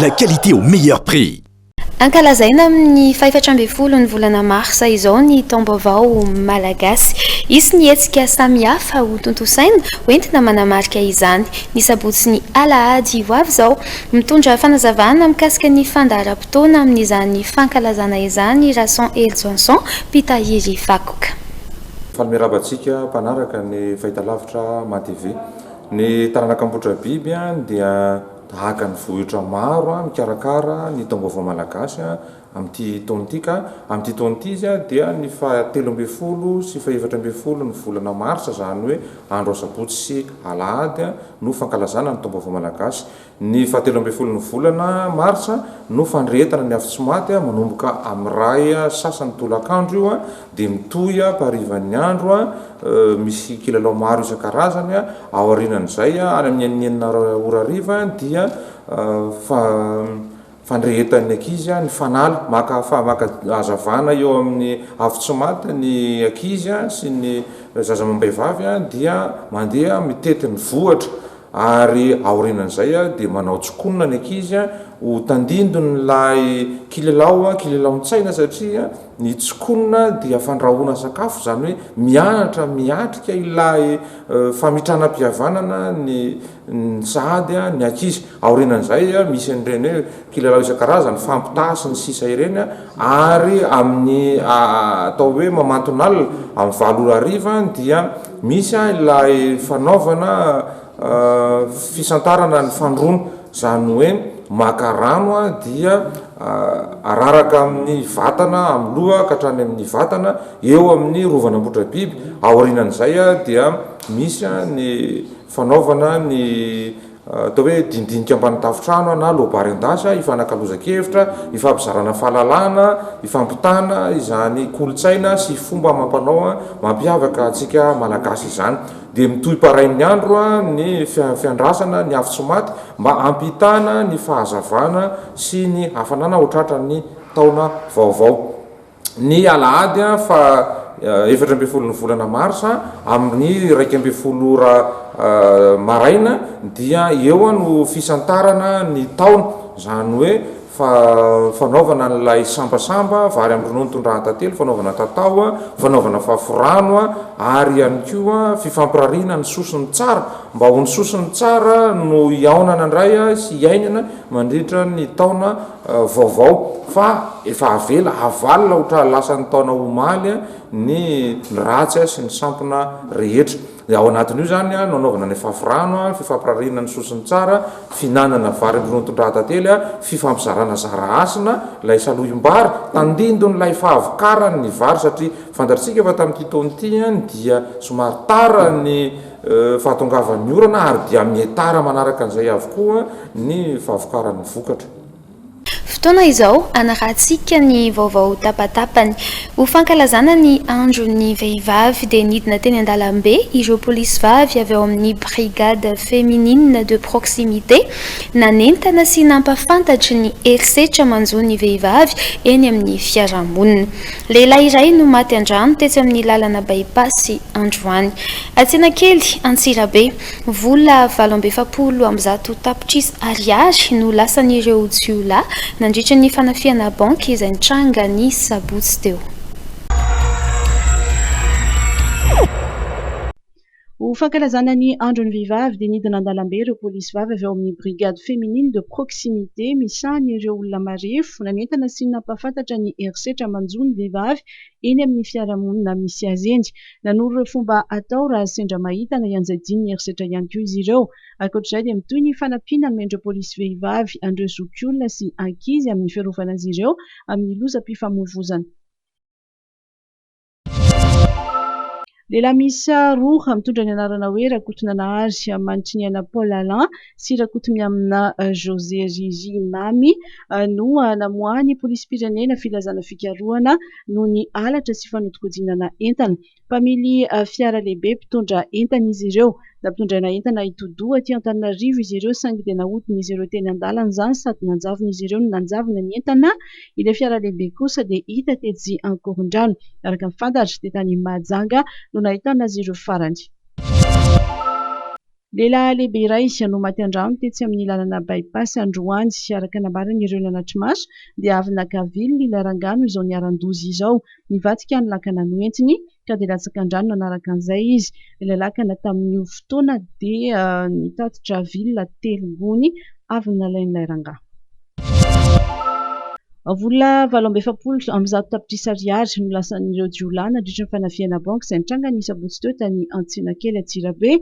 C: La qualité au meilleur prix. Ankalazaina
A: amin'ny fahefatra ambin'ny folo ny volana marsa izao ny Taom-baovao malagasy. Hisy ny hetsika samihafa hotontosaina hoentina manamarika izany, ny sabotsy sy ny alahady ho avy izao. Mitondra fanazavana mikasika ny fandaharam-potoana amin'izany fankalazana izany i Rason Helijonson, mpitahiry vakoka. Faly miarahaba
D: antsika mpanaraka ny fahitalavitra Mah TV. Ny taranaka Ambohidrabiby dia tahaka ny vohitra maro mikarakara ny taom-baovao malagasy amin'ity taona ity ka amin'ity taona ity izy dia ny fahatelo ambin'ny folo sy fahefatra ambin'ny folo ny volana marsa izany hoe andro asabotsy sy alahady no fankalazana ny taom-baovao malagasy Ny fahatelo ambin'ny folon'ny volana martsa no fandrehetana ny afo tsy maty, manomboka amin'ny ray sasany tolakandro io dia mitohy amparivan'ny andro, misy kilalao maro isan-karazany, ao aorianan'izay any amin'ny enina ora hariva dia fandrehetan'ny ankizy, ny fanala, maka fa maka hazavana eo amin'ny avy tsy maty ny ankizy sy ny zaza amam-behivavy dia mandeha mitety ny vohitra ary aorianan'izay dia manao tsikonona ny ankizy ho tandindon'ilay kilelao kilelaon-tsaina satria ny tsikonona dia fandrahoana sakafo izany hoe mianatra miatrika ilay famitranam-pihavanana ny ny sahady, ny ankizy. Aorianan'izay, misy an'ireny hoe kilalao isan-karazany, fampitaha sy ny sisa ireny ary amin'ny atao hoe mamanton'alina, amin'ny valo ora hariva dia misy ilay fanaovana fisantarana ny fandroana, izany hoe maka rano dia araraka amin'ny vatana, amin'ny loha ka hatrany amin'ny vatana, eo amin'ny rovan'Ambohidrabiby. Aorianan'izay dia misy ny. Fanaovana ny atao hoe dindinika ambany tafontrano na lobary an-dasa hifanakalozan-kevitra, hifampizarana fahalalana, hifampitana izany kolontsaina sy fomba amam-panao mampiavaka antsika Malagasy izany. Dia mitohy parain'ny andro ny fiandrasana ny afo tsy maty mba hampitana ny fahazavana sy ny hafanana ho tratran'ny taona vaovao. ny alahady faha efatra ambin'ny folon'ny volana marsa amin'ny iraika ambin'ny folo ora maraina dia eo no fisantarana ny taona, izany hoe fanaovana an'ilay sambasamba, vary amin'ny ronono, tondrahan-tantely, fanaovana tatao, fanaovana faforano ary ihany koa fifampirariana ny sosiny tsara mba ho ny sosiny tsara no hihaonana indray sy hiainana mandritra ny taona. Vaovao fa efa avela havalona ho tra lasan'ny taona omaly ny ratsy sy ny sampona rehetra. Dia ao anatin'io izany no anaovana ny fafy rano, fifampirariana ny soa sy ny tsara, fihinanana vary amin'ny ronton-drahatantely, fifampizarana zara hasina ilay salohim-bary, tandindon'ilay fahavokaran'ny vary satria fantatrtsika fa tamin'ity taona ity dia somary tara ny fahatongavan'ny orana ary dia mietara manaraka an'izay avokoa ny fahavokaran'ny vokatra. Fotoana
A: izao hanarahantsika ny vaovao tapatapany. Ho fankalazana ny andron'ny vehivavy dia nidina teny an-dalambe ireo polisy vavy avy ao amin'ny Brigade Féminine de Proximité nanentana sy nampafantatry ny herisetra manjo ny vehivavy eny amin'ny fiarahamonina. Lehilahy iray no maty an-drano tetsy amin'ny lalana By-pass androany, Antsenakely Antsirabe. Vola valo amby efapolo amby zato tapitrisa ariary no lasan'ireo jiolahy nandritra ny fanafihana banky izay nitranga ny sabotsy teo.
G: Ho fankalazana ny andron'ny vehivavy dia nidina an-dalambe ireo polisy vavy avy ao amin'ny Brigade Féminine de Proximité misahana ireo olona marefo nanentana sy nampahafantatra ny herisetra manjo ny vehivavy eny amin'ny fiarahamonina misy azy eny. Nanoro ireo fomba atao raha sendra mahita na ianjadian'ny herisetra ihany koa izy ireo. Ankoatr'izay dia mitohy ny fanampiana nomen'ireo polisy vehivavy an'ireo zokiolona sy ankizy amin'ny fiarovana azy ireo amin'ny lozam-pifamoivoizana. Lehilahy miisa roa mitondra ny anarana hoe Rakotonanahary Manitriniaina Paul Alain sy Rakotomiamina José Riri Mamy no namoahan'ny Polisim-pirenena filazana fikarohana noho ny halatra sy fanodinkodinana entana. Mpamily fiara lehibe mpitondra entana izy ireo. Nampitondraina entana hitodoha aty Antananarivo izy ireo saingy dia nahodin'izy ireo teny an-dalana izany sady nanjavon'izy ireo ny nanjavona ny entana. Ilay fiara lehibe kosa dia hita tetsy Ankorondrano. Araka ny fantatra dia tany Mahajanga no nahitana azy ireo farany. Lehilahy lehibe iray no maty an-drano tetsy amin'ny lalana By-pass androany. Araka ny nambaran'ireo nanatri-maso dia avy naka vilona ilay rangahy no izao niharan-doza izao. Nivadika ny lakana noentiny. ka dia latsaka an-drano nanaraka an'izay izy. Ilay lakana tamin'io fotoana dia nitatitra villa telo gony avy nalain'ilay rangahy. Vola valo amby efapolo amby zato tapitrisa ariary no lasan'ireo jiolahy nandritra ny fanafihana banky izay nitranga ny sabotsy teo tany Antsinakely Antsirabe.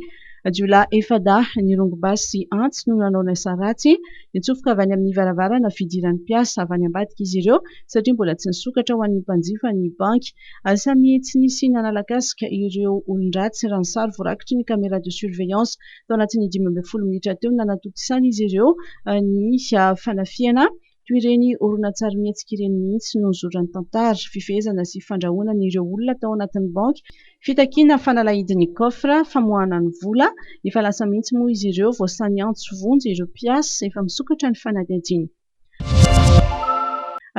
G: Jiolahy efa-dahy nirongo basy sy antsy no nanao ilay sa ratsy. Nitsofoka avy any amin'ny varavarana fidiran'ny mpiasa avy any ambadika izy ireo satria mbola tsy nisokatra ho an'ny mpanjifa ny banky. Asa mihi tsy nisy nanala casque ireo olon-dratsy raha ny sary voarakitry ny camera de surveillance. Tao anatin'ny dimy ambin'ny folo minitra teo no nanatontosana izy ireo ny fanafihana. Toy ireny horonantsarimihetsika ireny mihitsy no nizoran'ny tantara. Fifehezana sy fandrahonana ireo olona tao anatin'ny banky. Fitakiana fanalahidin'ny coffre, famoahana ny vola. Efa lasa mihitsy moa izy ireo. Voasan'ny antso vonjy ireo mpiasa. Efa misokatra ny fanadihadiana.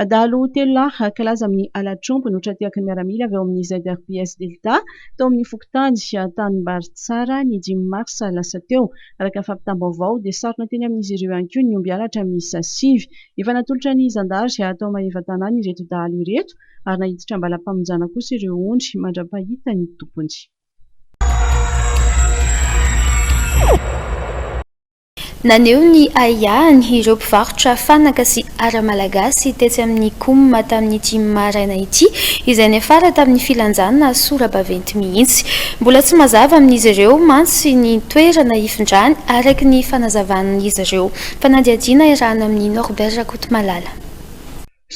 G: Adalo telo lahy hankalaza amin'ny halatr'omby no tra-tehaky ny miaramila avy ao amin'ny ZRPS Delta tao amin'ny fokontany Tanimbaritsara ny dimy marsa lasa teo. Araka ny fampitam-baovao dia sarona teny amin'izy ireo ihany koa ny omby halatra miisa sivy. Efa natolotra ny zandary ato Maevatanàna ireto dahalo ireto ary naiditra am-balampamonjana kosa ireo ondry mandra-pahita ny tompony.
A: Naneho ny ahiahiny ireo mpivarotra fanaka sy ara-malagasy tetsy amin'ny Coum tamin'ity maraina ity, izay niafara tamin'ny filanjana sora-baventy mihitsy. Mbola tsy mazava amin'izy ireo mantsy ny toerana hifindrany, araka ny fanazavan'izy ireo. Fanadihadiana iarahana amin'i Norbert Rakotomalala.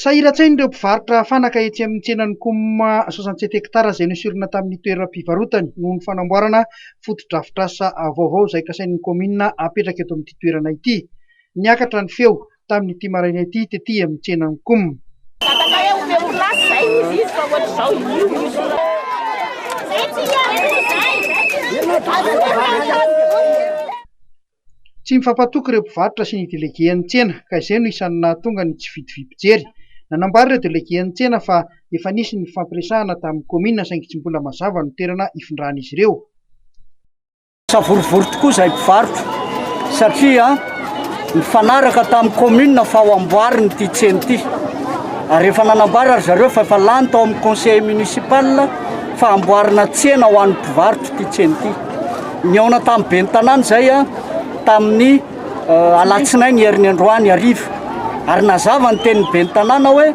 E: Sahiran-tsain'ireo mpivarotra fanaka etsy amin'ny tsenan'ny Coum soixante sept hectares izay noesorina tamin'ny toeram-pivarotany noho ny fanamboarana fotodrafitrasa vaovao izay kasain'ny kaominina apetraka eto amin'ity toerana ity. Niakatra ny feo tamin'ity maraina ity tety amin'ny tsenan'ny Coum. Tsy mifampatoky ireo mpivarotra sy ny delegen'ny tsena ka izay no isan'ny nahatonga ny tsy vidy vy mpijery. Nanambara ireo delegen'ny tsena fa efa nisy ny nifampiresahana tamin'ny kaominina saingy tsy mbola mazava ny toerana hifindran'izy ireo. Savorovoro
F: tokoa izay mpivarotra satria nifanaraka tamin'ny kaominina fa ho amboarina ity tsena ity ary efa nanambara ry zareo fa efa lany tao amin'ny conseil municipal fa hamboarina tsena ho an'ny mpivarotra ity tsena ity. Nihaona tamin'ny ben'ny tanàna izay tamin'ny alatsinainy herin'ny androany hariva ary nazava ny tenin'ny ben'ny tanàna hoe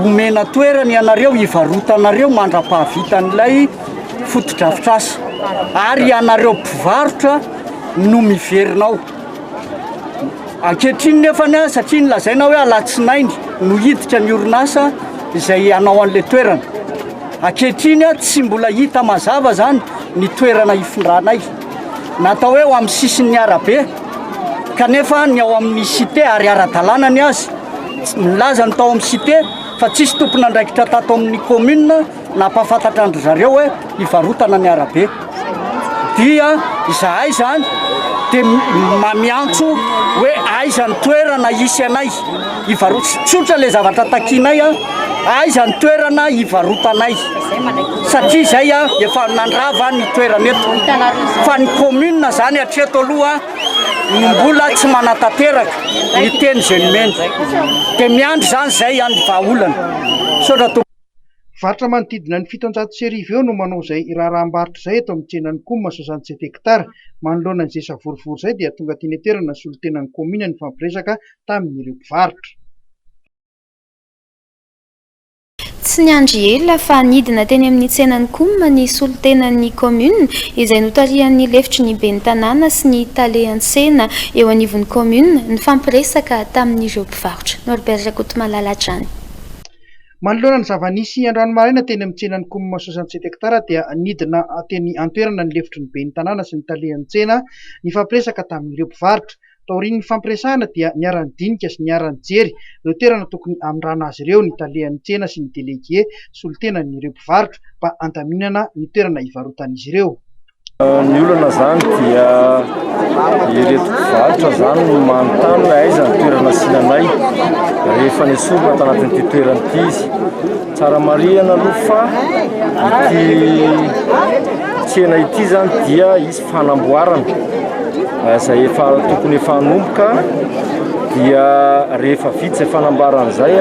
F: omena toerana ianareo hivarotanareo mandra-pahavitan'ilay fotodrafitrasa ary ianareo mpivarotra no miverina ao. Ankehitriny nefa ny ahy satria ny lazaina hoe alatsinainy no hiditra ny orinasa izay hanao an'ilay toerana. Ankehitriny aho tsy mbola hita mazava izany ny toerana hifindranay. Natao hoe ho amin'ny sisin'ny arabe kanefa ny ao amin'ny site ary ara-dalàna ny azy. Milaza ny tao amin'ny site fa tsisy tompon'andraikitra tato amin'ny commune. Nampahafantatra an-dry zareo hoe hivarotana ny arabe. Dia izahay izany dia miantso hoe aiza ny toerana hisy anay hivarotana. Tsotra ilay zavatra takianay, aiza ny toerana hivarotanay. Satria izay efa nandrava ny toerana eto. Fa ny commune izany hatreto aloha no mbola tsy manatanteraka ny teny izay nomeny. Dia miandry izany izay ny vahaolana. Misaotra tompoko. Varotra
E: manodidina ny fitonjato sy arivo eo no manao izay raharaham-barotra izay eto amin'ny tsenan'ny Coum soixante-sept hectares. Manoloana izay savorovoro izay dia tonga teny an-toerana ny solontenan'ny kaominina nifampiresaka tamin'ireo mpivarotra.
A: Tsy niandry ela fa nidina teny amin'ny tsenan'ny Coum ny solontenan'ny kaominina izay notarihan'ny lefitry ny ben'ny tanàna sy ny tale an-tsena eo anivon'ny kaominina nifampiresaka tamin'ireo mpivarotra. Norbert Rakotomalala hatrany.
E: Manoloana ny zava-nisy androany maraina teny amin'ny tsenan'i Coum Soixante Sept Hectares dia nidina teny an-toerana ny lefitry ny ben'ny tanàna sy ny talehan'ny tsena nifampiresaka tamin'ireo mpivarotra. Taorian'ny nifampiresahana dia niara-nidinika sy niara-nijery ireo toerana tokony hamindrana azy ireo ny talehan'ny tsena sy ny delegue solontenan'ireo mpivarotra mba handaminana ny toerana hivarotan'izy ireo. Ny olana
H: izany dia ireto mpivarotra izany no manontany hoe aiza ny toerana asiana anay rehefa nesorina ato anatin'ity toerana ity izy. Tsara marihana aloha fa ity tsena ity izany dia hisy fanamboarana izay efa tokony efa hanomboka dia rehefa vita izay fanamboarana izay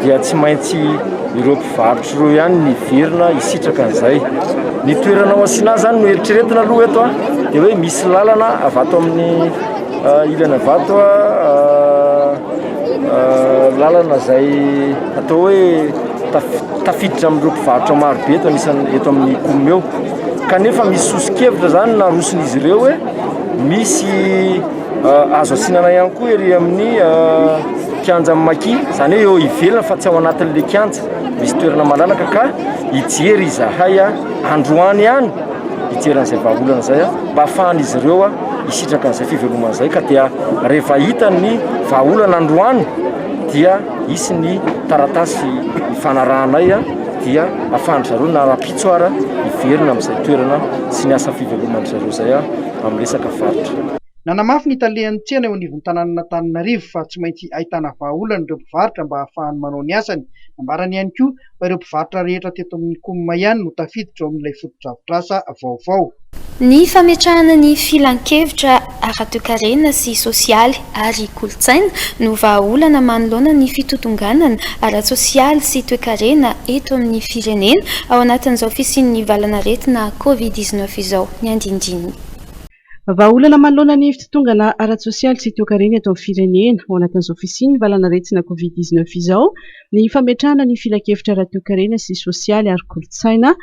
H: dia tsy maintsy ireo mpivarotra Tro ihany ny hiverina hisitraka an'izay. Ny toerana ao Asinà izany no eritreretina aloha eto dia hoe misy lalana avy ato amin'ny ilana avy ato lalana izay atao hoe tafiditra amin'ireo mpivarotra maro be eto anisan'ny eto amin'ny kaominina eo. Kanefa misy soso-kevitra izany naroson'izy ireo hoe misy azo asinana ihany koa ery amin'ny kianjan'ny Maki, izany hoe eo ivelany fa tsy ao anatin'ilay kianja. Misy toerana malalaka ka hijery izahay androany any hijery an'izay vahaolana izay mba hafahan'izy ireo hisitraka an'izay fivelomana izay ka dia rehefa hita ny vahaolana androany dia hisy ny taratasy hifanarahanay dia hafahan'izay zareo na rahampitso ara hiverina amin'izay toerana sy ny asa fiveloman'izay zareo izay amin'ny resaka varotra. Nanamafy ny
E: talehan'ny tsena eo anivon'ny tanànan'Antananarivo fa tsy maintsy ahitana vahaolana ireo mpivarotra mba hahafahany manao ny asany. Nambarany ihany koa fa ireo mpivarotra rehetra teto amin'ny Coum ihany no tafiditra ao amin'ilay fotodrafitrasa vaovao. Ny
A: fametrahana ny filankevitra ara-toekarena sy sosialy ary kolontsaina no vahaolana manoloana ny fitotonganana ara-tsosialy sy toekarena eto amin'ny firenena ao anatin'izao fisian'ny valan'aretina Covid dix-neuf izao ny andinindininy. Vahaolana
G: manoloana ny fitotongana ara-tsosialy sy toekarena eto amin'ny firenena. Ao anatin'izao fisian'ny valan'aretina Covid dix neuf izao ny fametrahana ny filankevitra ara-toekarena sy sosialy ary kolontsaina,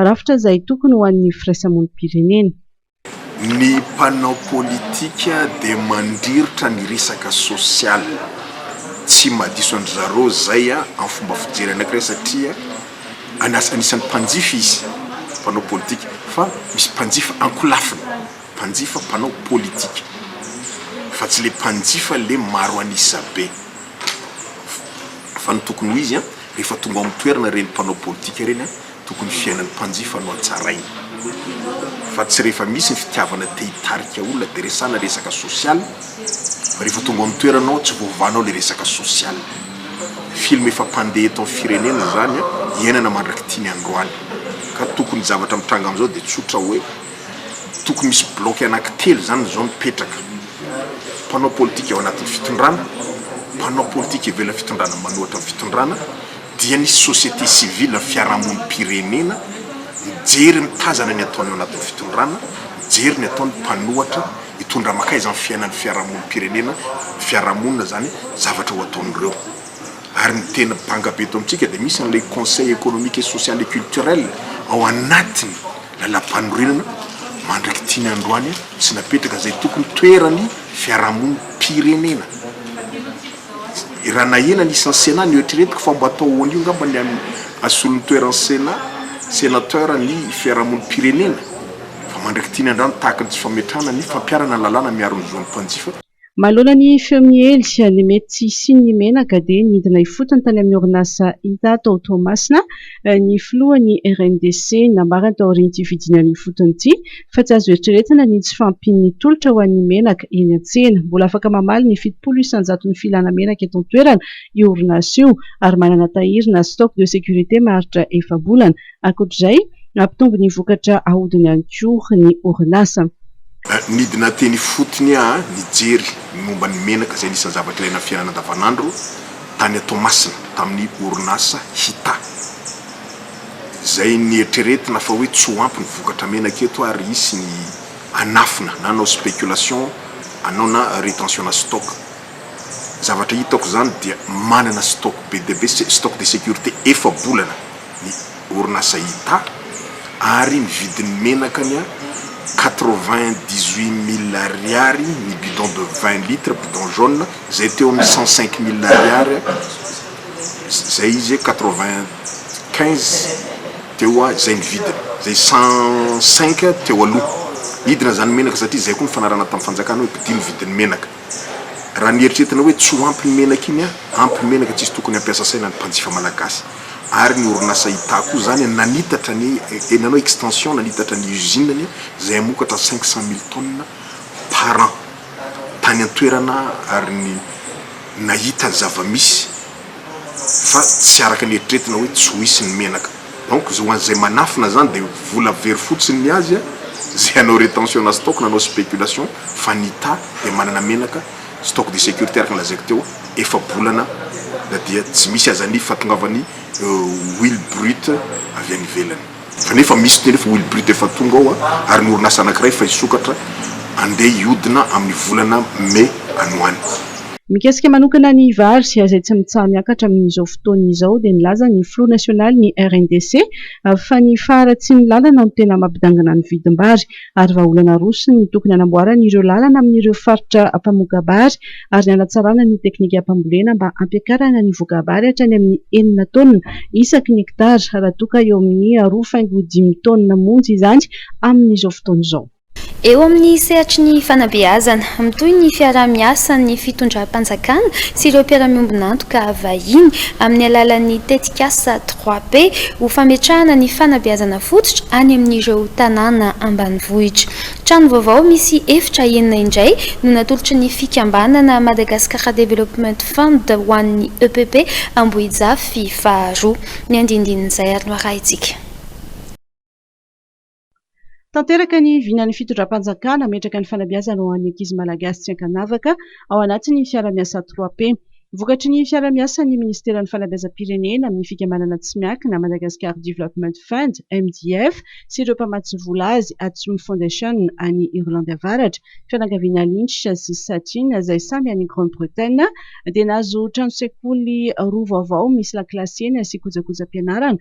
G: rafitra izay tokony ho an'ny firaisamonim-pirenena.
I: Ny mpanao politika dia mandriritra ny resaka sosialy, tsy mahadiso an-dry zareo izay amin'ny fomba fijery anankiray satria. Anisan'ny mpanjifa izy, mpanao politika, fa misy mpanjifa ankolafiny, mpanjifa mpanao politika, fa tsy le mpanjifa le maro an'isa be. Fa ny tokony ho izy an, rehefa tonga ao amin'ny toerana ireny mpanao politika ireny an, tokony fiainan'ny mpanjifa no hatsaraina, fa tsy rehefa misy ny fitiavana te hitarika olona dia resana resaka social, fa rehefa tonga ao amin'ny toerana ao tsy voavahanao le resaka social. Film efa mpandeha eto amin'ny firenena izany iainana mandrak'ity ny androany. Ka tokony ny zavatra mitranga amin'izao dia tsotra hoe tokony misy bloc anankitelo izany izao mipetraka. Mpanao politika ao anatin'ny fitondrana, mpanao politika ivelan'ny fitondrana manohatra ny fitondrana dia ny société civile ny fiarahamonim-pirenena mijery mitazana ny ataony ao anatin'ny fitondrana, mijery ny ataony mpanohatra. Hitondra makaiza amin'ny fiainan'ny fiarahamonim-pirenena, ny fiarahamonina izany, zavatra ho ataon'ireo. Ary ny tena banga be eto amintsika dia misy an'ilay Conseil Economique et Social et Culturel ao anatin'ny Lalampanorenana mandrak'ity ny androany sy napetraka izay tokony toeran'ny fiarahamonim-pirenena. I Ranahena anisan'ny Sénat noeritreretiko fa mba atao an'io angamba ny an'ny solon'ny toeran'ny Sénat, Sénateur ny fiarahamonim-pirenena. Fa mandrak'i Tiana Andrano tahaka ny tsy fametrahana ny fampiharana ny lalàna miaro ny zon'ny mpanjifa. Manoloana
G: ny feo miely ny mety tsy hisian'ny menaka dia nidina ifotony tany amin'ny orinasa Inta tao Toamasina ny filohan'ny RNDC. Nambarany taorian'ity fidinana ifotony ity fa tsy azo eritreretina ny tsy fahampian'ny tolotra ho an'ny menaka eny an-tsena. Mbola afaka mamaly ny fitopolo isan-jaton'ny filana menaka eto an-toerana io orinasa io ary manana tahiry na stock de sécurité maharitra efa-bolana Ankoatr'izay, nampitombo ny vokatra ahodiny ihany koa ny orinasa. Nidina
I: teny ifotony aho nijery ny momba ny menaka izay anisan'ny zavatra ilaina amin'ny fiainana andavanandro tany Toamasina tamin'ny orinasa Hita. Izay nieritreretina fa hoe tsy ho ampy ny vokatra menaka eto ary hisy ny hanafina na hanao spéculation anao na retentionà stock. Zavatra hitako izany dia manana stock be dia be, stock de sécurité efa-bolana. ny orinasa Hita ary ny vidin'ny menaka ny a quatre vingt dix huit mille ariary ny bidon de vingt litres bidon jaune izay teo amin'ny cent cinq mille ariary izay izy quatre vingt quinze teo a izay ny vidiny izay cent cinq teo aloha nidina izany menaka satria izay koa ny fanarahana tamin'ny fanjakana hoe mpidia ny vidin'ny menaka. Raha mieritreritra hoe tsy ho ampy ny menaka iny an! Ampy ny menaka tsisy tokony hampiasa saina ny mpanjifa malagasy ary ny orinasa Ita koa izany nanitatra ny nanao extension nanitatra ny usine ny izay hamokatra cinq cent mille tonnes par an tany an-toerana ary ny nahita ny zava-misy fa tsy araka ny eritreretina hoe tsy ho hisy ny menaka. Donc ho an'izay manafina zany dia vola very fotsiny ny azy a, zay hanao retention na stock na hanao spéculation fa ny ta dia manana menaka stock de sécurité araka ny lazaiko teo efa-bolana na dia tsy misy aza ny fahatongavan'ny huile brute avy any ivelany fa nefa misy ny efa huile brute efa tonga ao a, ary ny orinasa anakiray efa hisokatra andeha hiodina amin'ny volana mai any ho any. Mikasika
G: manokana ny vary izay tsy mitsaha-miakatra amin'izao fotoana izao dia nilaza ny filoha nasionalin'ny RNDC fa ny faharatsian'ny lalana no tena mampidangana ny vidim-bary ary vahaolana roso ny tokony hanamboarana ireo lalana amin'ireo faritra mpamoka-bary ary ny hanatsarana ny teknikam-pambolena mba hampiakarana ny voka-bary hatrany amin'ny enina taonina isaky ny hektara raha toa ka eo amin'ny roa faingo dimy taonina monja izany amin'izao fotoana izao. Eo amin'ny
A: sehatry ny fanabeazana, mitohy ny fiaraha-miasan'ny fitondram-panjakana sy ireo mpiara-miombon'antoka vahiny amin'ny alalan'ny tetikasa Trois P ho fametrahana ny fanabeazana fototra any amin'ireo tanàna ambanivohitra. Trano vaovao misy efitra enina indray no natolotry ny fikambanana Madagascar Development Fund ho an'ny epp Ambohijafy faharoa. Ny andindinin'izay ary no arahintsika.
G: Tanteraka ny vinan'ny fitondram-panjakana hametraka ny fanabeazana ho an'ny ankizy malagasy tsy ankanavaka ao anatin'ny fiaraha-miasa trois P. Vokatry ny fiaraha-miasan'ny minisiteran'ny fanabeazam-pirenena amin'ny fikambanana tsy miankina Madagascar Development Fund, MDF, sy ireo mpamatsy vola azy, Atsum Foundation any Irlandy Avaratra, fianakaviana Lynch sy Satin izay samy any Grande Bretagne, dia nahazo trano sekoly roa vaovao misy lakilasy enina sy kojakojam-pianarana.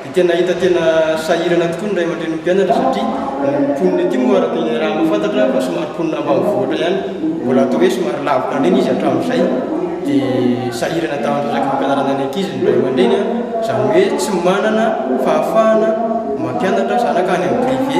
J: Dia tena hita tena sahirana tokoa ny ray aman-drenin'ny mpianatra satria ny mponina ety moa araka ny raha mahafantatra aho fa somary mponina ambanivohitra ihany, mbola atao hoe somary lavitra indrindra izy hatramin'izay, dia sahirana tamin'ny resaka fampianarana ny ankizy ny ray aman-dreny an, izany hoe tsy manana fahafahana mampianatra zanaka any amin'ny privé.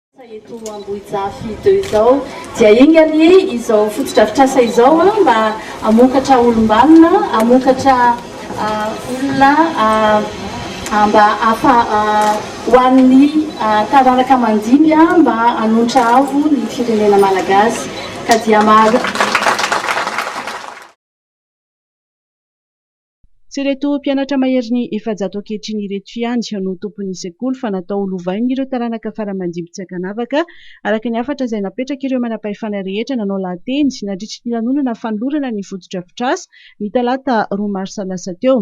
K: Eto Ambohijafy deux izao dia enga anie izao fotodrafitrasa izao mba hamokatra olom-banona, hamokatra olona mba ho an'ny taranaka mandimby mba hanonitra avo ny firenena malagasy ka dia.
G: Tsy ireto mpianatra maherin'ny efajato ankehitriny ireto ihany no tompon'ny sekoly fa natao ho lovain'ireo taranaka fara-mandibo tsy ankanavaka, araka ny hafatra izay napetrak'ireo manam-pahefana rehetra nanao lahateny nandritry ny lanonana fanolorana ny fotodrafitrasa ny talata roa marsa lasa teo.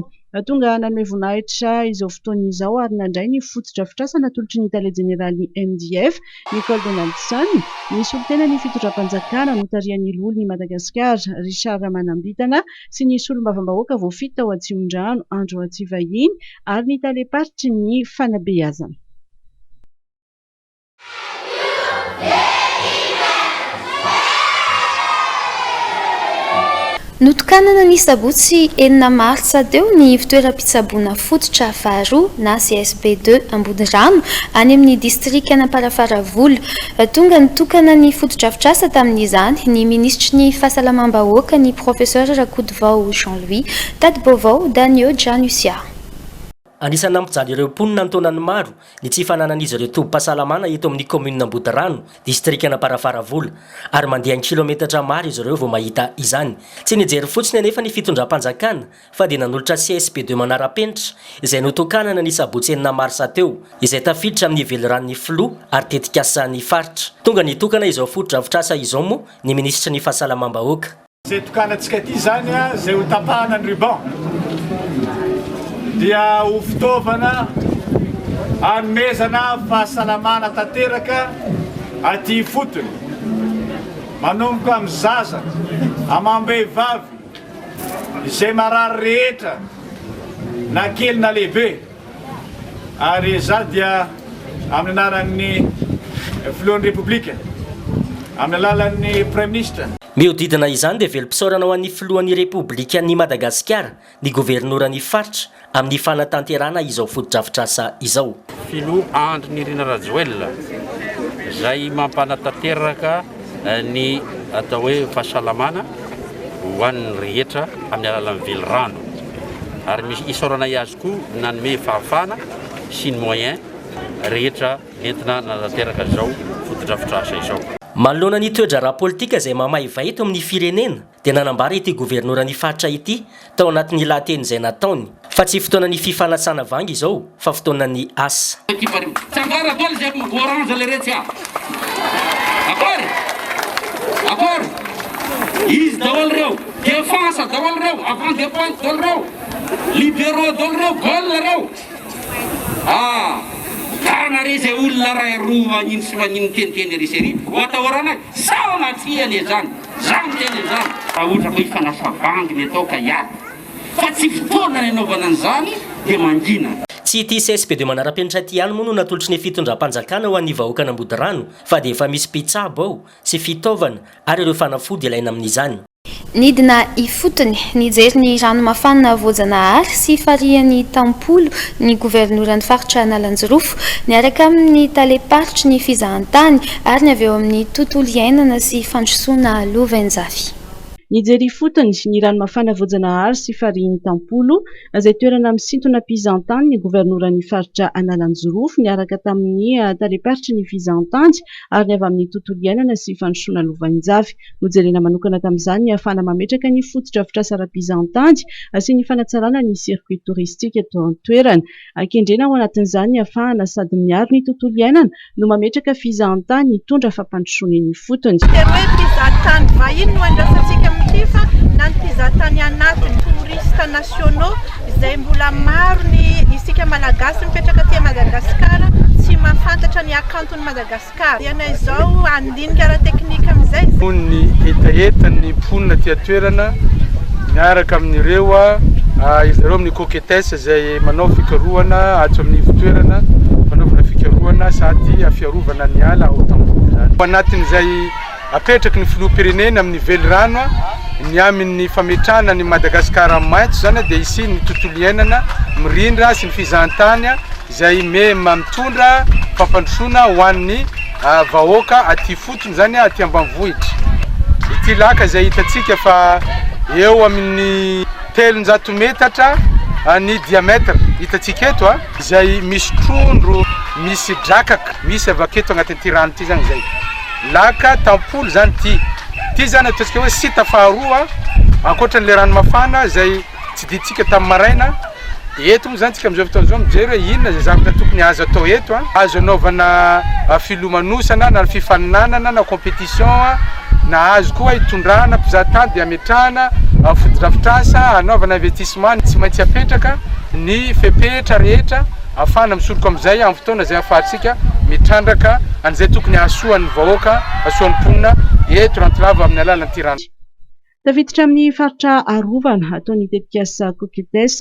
G: Tonga nanome voninahitra izao fotoana izao ary nandray ny fotodrafitrasa natolotry ny tale jeneralin'ny MDF, Nicole Donaldson, ny solontenan'ny fitondram-panjakana notarihan'ny loholon'i Madagasikara, Richard Ramanambitana, sy ny solombavambahoaka voafidy tao Atsimondrano, Andry Ratsivahiny, ary ny talem-paritry ny fanabeazana.
A: Notokanana ny sabotsy enina martsa teo ny ivontoeram-pitsaboana fototra faharoa na CSP deux Ambodorano any amin'ny distrikan'Amparafaravola. Tonga nitokana ny fotodrafitrasa tamin'izany ny minisitry ny Fahasalamam-bahoaka, ny Professeur Rakotovao Jean Louis. Tati-baovao, Danio Janusia. Anisan'ny
L: nampijaly ireo mponina an-taonany maro ny tsy fananan'izy ireo tobim-pahasalamana eto amin'ny kaominina Ambodirano, distrikan'Amparafaravola, ary mandeha an-kilaometatra maro izy ireo vao mahita izany. Tsy nijery fotsiny anefa ny fitondram-panjakana fa dia nanolotra CSP deux manara-penitra izay notokanana ny sabotsy enina marsa teo, izay tafiditra amin'ny veliranon'ny filoha ary tetikasan'ny faritra. Tonga nitokana izao fotodrafitrasa izao moa ny minisitry ny fahasalamam-bahoaka. Izay tokanantsika
M: ity izany izay ho tapahana ny ruban dia ho fitaovana hanomezana fahasalamana tanteraka aty ifotony, manomboka amin'ny zaza, amam-behivavy, izay marary rehetra na kely na lehibe ary izaho dia amin'ny anaran'ny filohan'ny Repoblika amin'ny alalan'ny Praiminisitra Mihodidina izany dia
L: velom-pisaorana ho an'ny Filohan'ny Repoblikan'i Madagasikara, ny Governoran'ny Faritra amin'ny fanatanterahana izao fotodrafitrasa izao. Filoha Andry
N: Nirina Rajoelina izay mampanatanteraka ny atao hoe fahasalamana ho an'ny rehetra amin'ny alalan'ny velirano ary misy isaoranay azy koa nanome fahafahana sy ny moyen rehetra entina nanatanteraka izao fotodrafitrasa izao. Manoloana ny toedraharaha
L: politika izay mamaiva eto amin'ny firenena dia nanambara ity governoran'ny faritra ity tao anatin'ny lahateny izay nataony fa tsy fotoanan'ny fifanasana vangy izao fa fotoanan'ny asa.
X: Zany ny tenany zany. Raha ohatra ka efa lasa bandy ny atao ka hiady fa tsy fotoana ny anaovana an'izany dia mangina. Tsy ity CSPD
L: manara-penitra ity ihany moa no natolotry ny fitondram-panjakana ho an'ny vahoakan'Ambodirano fa dia efa misy mpitsabo ao sy fitaovana ary ireo fanafody ilaina amin'izany. Nidina
A: ifotony, nijery ny rano mafana voajanahary sy farihin'ny tampolo ny governoran'ny faritra Analanjirofo, niaraka amin'ny talem-paritry ny fizahantany Ary ny avy eo amin'ny tontolo iainana sy fandrosoana lovain-jafy. Nijery
G: ifotony ny rano mafana voajanahary sy farihin'ny Tampolo, izay toerana misintona mpizahantany ny governoran'ny faritra Analanjirofo, niaraka tamin'ny talem-paritry ny fizahantany, ary ny avy amin'ny tontolo iainana sy fandrosoana lovain-jafy. Nojerena manokana tamin'izany ny hahafahana mametraka ny fotodrafitrasa ara-pizahantany sy ny fanatsarana ny circuit touristique eto an-toerana. An-kendrena ao anatin'izany ny afahana sady miaro ny tontolo iainana no mametraka fizahantany hitondra fampandrosoana eny ifotony. Dia hoe mpizahatany
Y: vahiny no andrasantsika amin'ity fa na ny mpizahatany anatiny, touristes nationaux, izay mbola maro ny isika Malagasy mipetraka aty Madagasikara tsy mahafantatra ny hakanton'i Madagasikara. Ka ianay izao handinika ara-teknika amin'izay. Noho ny
M: hetahetan' ny mponina aty an-toerana miaraka amin' ireo ahiza ireo amin' ny coquettes izay manao fikarohana ato amin' ny ivon-toerana fanaovana fikarohana sady fiarovana ny ala ao Tamboho izany. Ao anatin' izay apetraky ny Filoham-pirenena amin' ny velirano ny amin' ny fametrahana an' i Madagasikara maitso izany dia hisian' ny tontolo iainana mirindra sy ny fizahantany. izay mitondra fampandrosoana ho an'ny vahoaka aty ifotony, izany hoe aty ambanivohitra. Ity laka izay hitantsika fa eo amin'ny telonjato metatra ny diamètre, hitantsika eto, izay misy trondro, misy drakaka, misy avy aketo anatin'ity rano ity izany izay. Laka tampolo izany ity. Ity izany ataontsika hoe site faharoa ankoatra an'ilay rano mafana izay. Tsidintsika tamin'ny maraina, dia eto moa izany tsika amin'izao fotoana izao mijery hoe inona izay zavatra tokony azo atao eto, azo anaovana filomanosana na fifaninanana na competition, na azo koa itondrana mpizaha tany dia ametrahana fotodrafitrasa hanaovana investissement, tsy maintsy apetraka ny fepetra rehetra afahana misoroka amin'izay amin'ny fotoana izay afahantsika mitrandraka an'izay tokony hahasoa ny vahoaka, hahasoa ny mponina eto Rantsilava amin'ny alalan'ity rano. Tafiditra
G: amin'ny faritra arovana atao ny tetikasa Cocuttes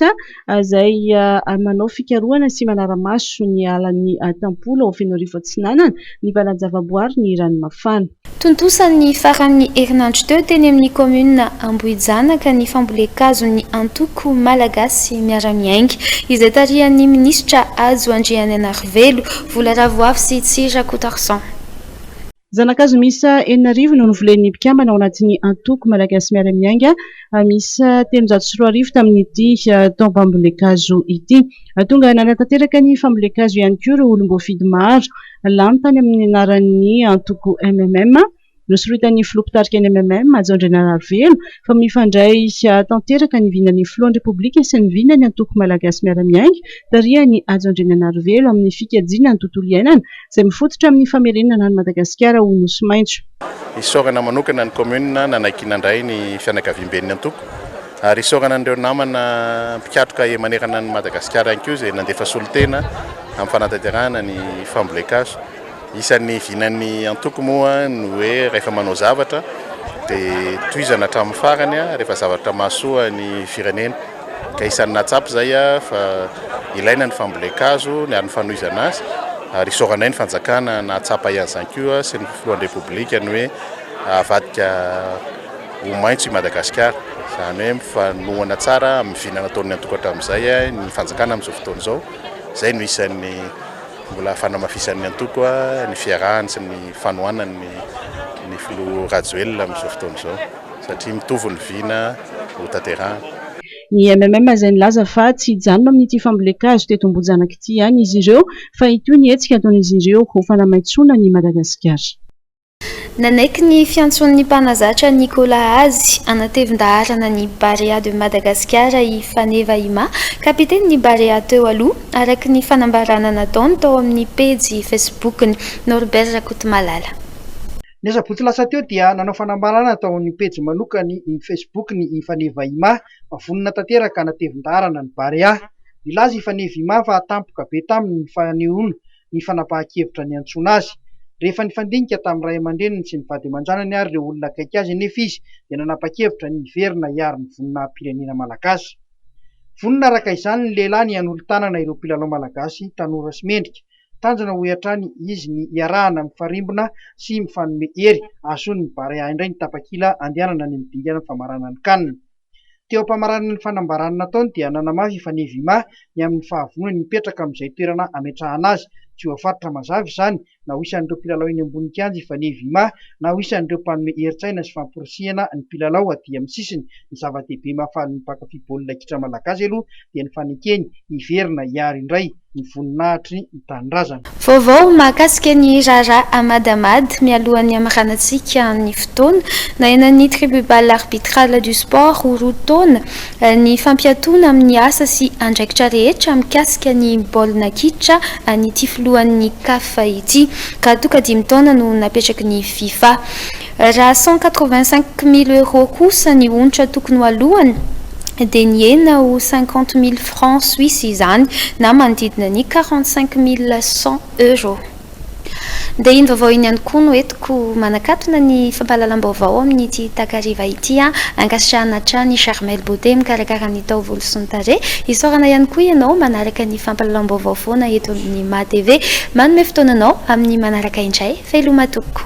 G: izay manao fikarohana sy manara-maso ny alan'i Tampola ao Fenoarivo Atsinanana ny valan-javaboary ny rano mafana. Tontosa ny
A: faran'ny herinandro teo teny amin'ny kaominina Ambohijanaka ny fambolen-kazon'ny antoko Malagasy miara-miainga, izay tarihan'ny minisitra Hajo Andriananarivelo, Vola Ravoavo sy Tsy Rakotarizan.
G: Zana-kazo miisa enina arivo no novolen'ny mpikambana ao anatin'ny antoko Malagasy Miara-Miainga miisa telonjato sy roa arivo tamin'ity taom-pambolen-kazo ity. Tonga nanatanteraka ny fambolen-kazo ihany koa ireo olom-boafidy maro lany tany amin'ny anaran'ny antoko MMM, nosoritan'ny filoha mpitarika ny MMM, Hajaondriana Rahavelo. fa mifandray tanteraka ny vinan'ny filohan'ny Repoblika sy ny vinan'ny antoko Malagasy miara-miainga tarihan'i Hajo Andriananarivelo amin'ny fikajiana ny tontolo iainana izay mifototra amin'ny famerenana an'i Madagasikara ho Nosy maitso. Isaorana
O: manokana ny Kaominina nanaiky nandray ny fianakaviamben'ny antoko ary isaorana an'ireo namana mpikatroka ey manerana an'i Madagasikara ihany koa izay nandefa solontena amin'ny fanatanterahana ny fambolen-kazo. Isan'ny vinan'ny antoko moa ny hoe rehefa manao zavatra dia tohizana hatramin'ny farany rehefa zavatra mahasoa ny firenena. Ka isan'ny nahatsapa izay aho fa ilaina ny fambolen-kazo ary ny fanohizana azy ary isaorana ahy ny fanjakana nahatsapa ahy an'izany koa sy ny filohan'ny Repoblika ny hoe avadika ho maitso i Madagasikara. Izany hoe mifanohana tsara amin'ny vina nataon'ny antoko hatramin'izay ny fanjakana amin'izao fotoana izao. Izay no isan'ny Mbola fanamafisan'ny antoko ny fiarahany sy ny fanohanany ny filoha Rajoelina amin'izao fotoana izao satria mitovy ny vina hotanterahana. Ny MMM
G: izay nilaza fa tsy hijanona amin'ity fambolen-kazo teto Ambohijanaka ity ihany izy ireo fa hitohy ny hetsika ataon'izy ireo ho fanamaitsoana an'i Madagasikara.
A: Nanaiky ny fiantsoan'ny mpanazatra Nikola azy hanatevin-daharana ny Barea de Madagascar i Faneva Ima, kapitenin'ny Barea teo aloha, araka ny fanambarana nataony tao amin'ny pejy Facebook-ny. Norbert Rakotomalala. Ny
E: asabotsy lasa teo dia nanao fanambarana tao amin'ny pejy manokany iny Facebook-ny i Faneva Ima fa vonona tanteraka hanatevin-daharana ny Barea. Nilaza i Faneva Ima fa tampoka be taminy ny fanehoana ny fanapahan-kevitra niantsoana azy. Rehefa nifandinika tamin'ny ray aman-dreniny sy ny vady aman-janany ary ireo olona akaiky azy anefa izy dia nanapa-kevitra ny hiverina hiaro ny voninahi-pirenena malagasy. Vonona araka izany ny lehilahy ny hanolo-tanana ireo mpilalao malagasy tanora sy mendrika. Tanjona hoy hatrany izy ny hiarahana mifarimbona sy mifanome hery hahazoan'ny Barea indray ny tapakila andehanana any amin'ny dingana famaranan'ny can. Teo am-pamarana ny fanambarana nataony dia nanamafy efa nevima ny amin'ny fahavonony hipetraka amin'izay toerana ametrahana azy. Tsy voafaritra mazava izany na ho isan'ireo mpilalao eny ambony kianja efa nevima na ho isan'ireo mpanome herin-tsaina sy famporisihana ny mpilalao aty amin'ny sisiny. Ny zava-dehibe mahafaly ny mpankafy baolina kitra malagasy aloha dia ny fanekeny hiverina hiaro indray ny voninahitry ny Tanindrazana. Vaovao mahakasika
A: ny raharaha Ahmad Ahmad mialohan'ny hamaranantsika ny fotoana. Nahenan'ny Tribubal Arbitral du Sport ho roa taona ny fampiatoana amin'ny asa sy andraikitra rehetra mikasika ny baolina kitra an'ity filohan'ny Caf ity ka toka dimy taona no napetraky ny Fifa. Raha cent quatre-vingt-cinq mille euros kosa ny onitra tokony ho aloany dia nihena ho cinquante mille francs suisses izany na manodidina ny quarante-cinq mille cent euros. Dia iny vaovao iny ihany koa no entiko manakatona ny fampahalalam-baovao amin'ity takariva ity an! Ankasitrahana hatrany i Charmel Beauté mikarakara ny taovolo sy ny tarehy. Isaorana ihany koa ianao manaraka ny fampahalalam-baovao foana eto amin'ny maha TV. Manome fotoana anao amin'ny manaraka indray fehiloha matoky.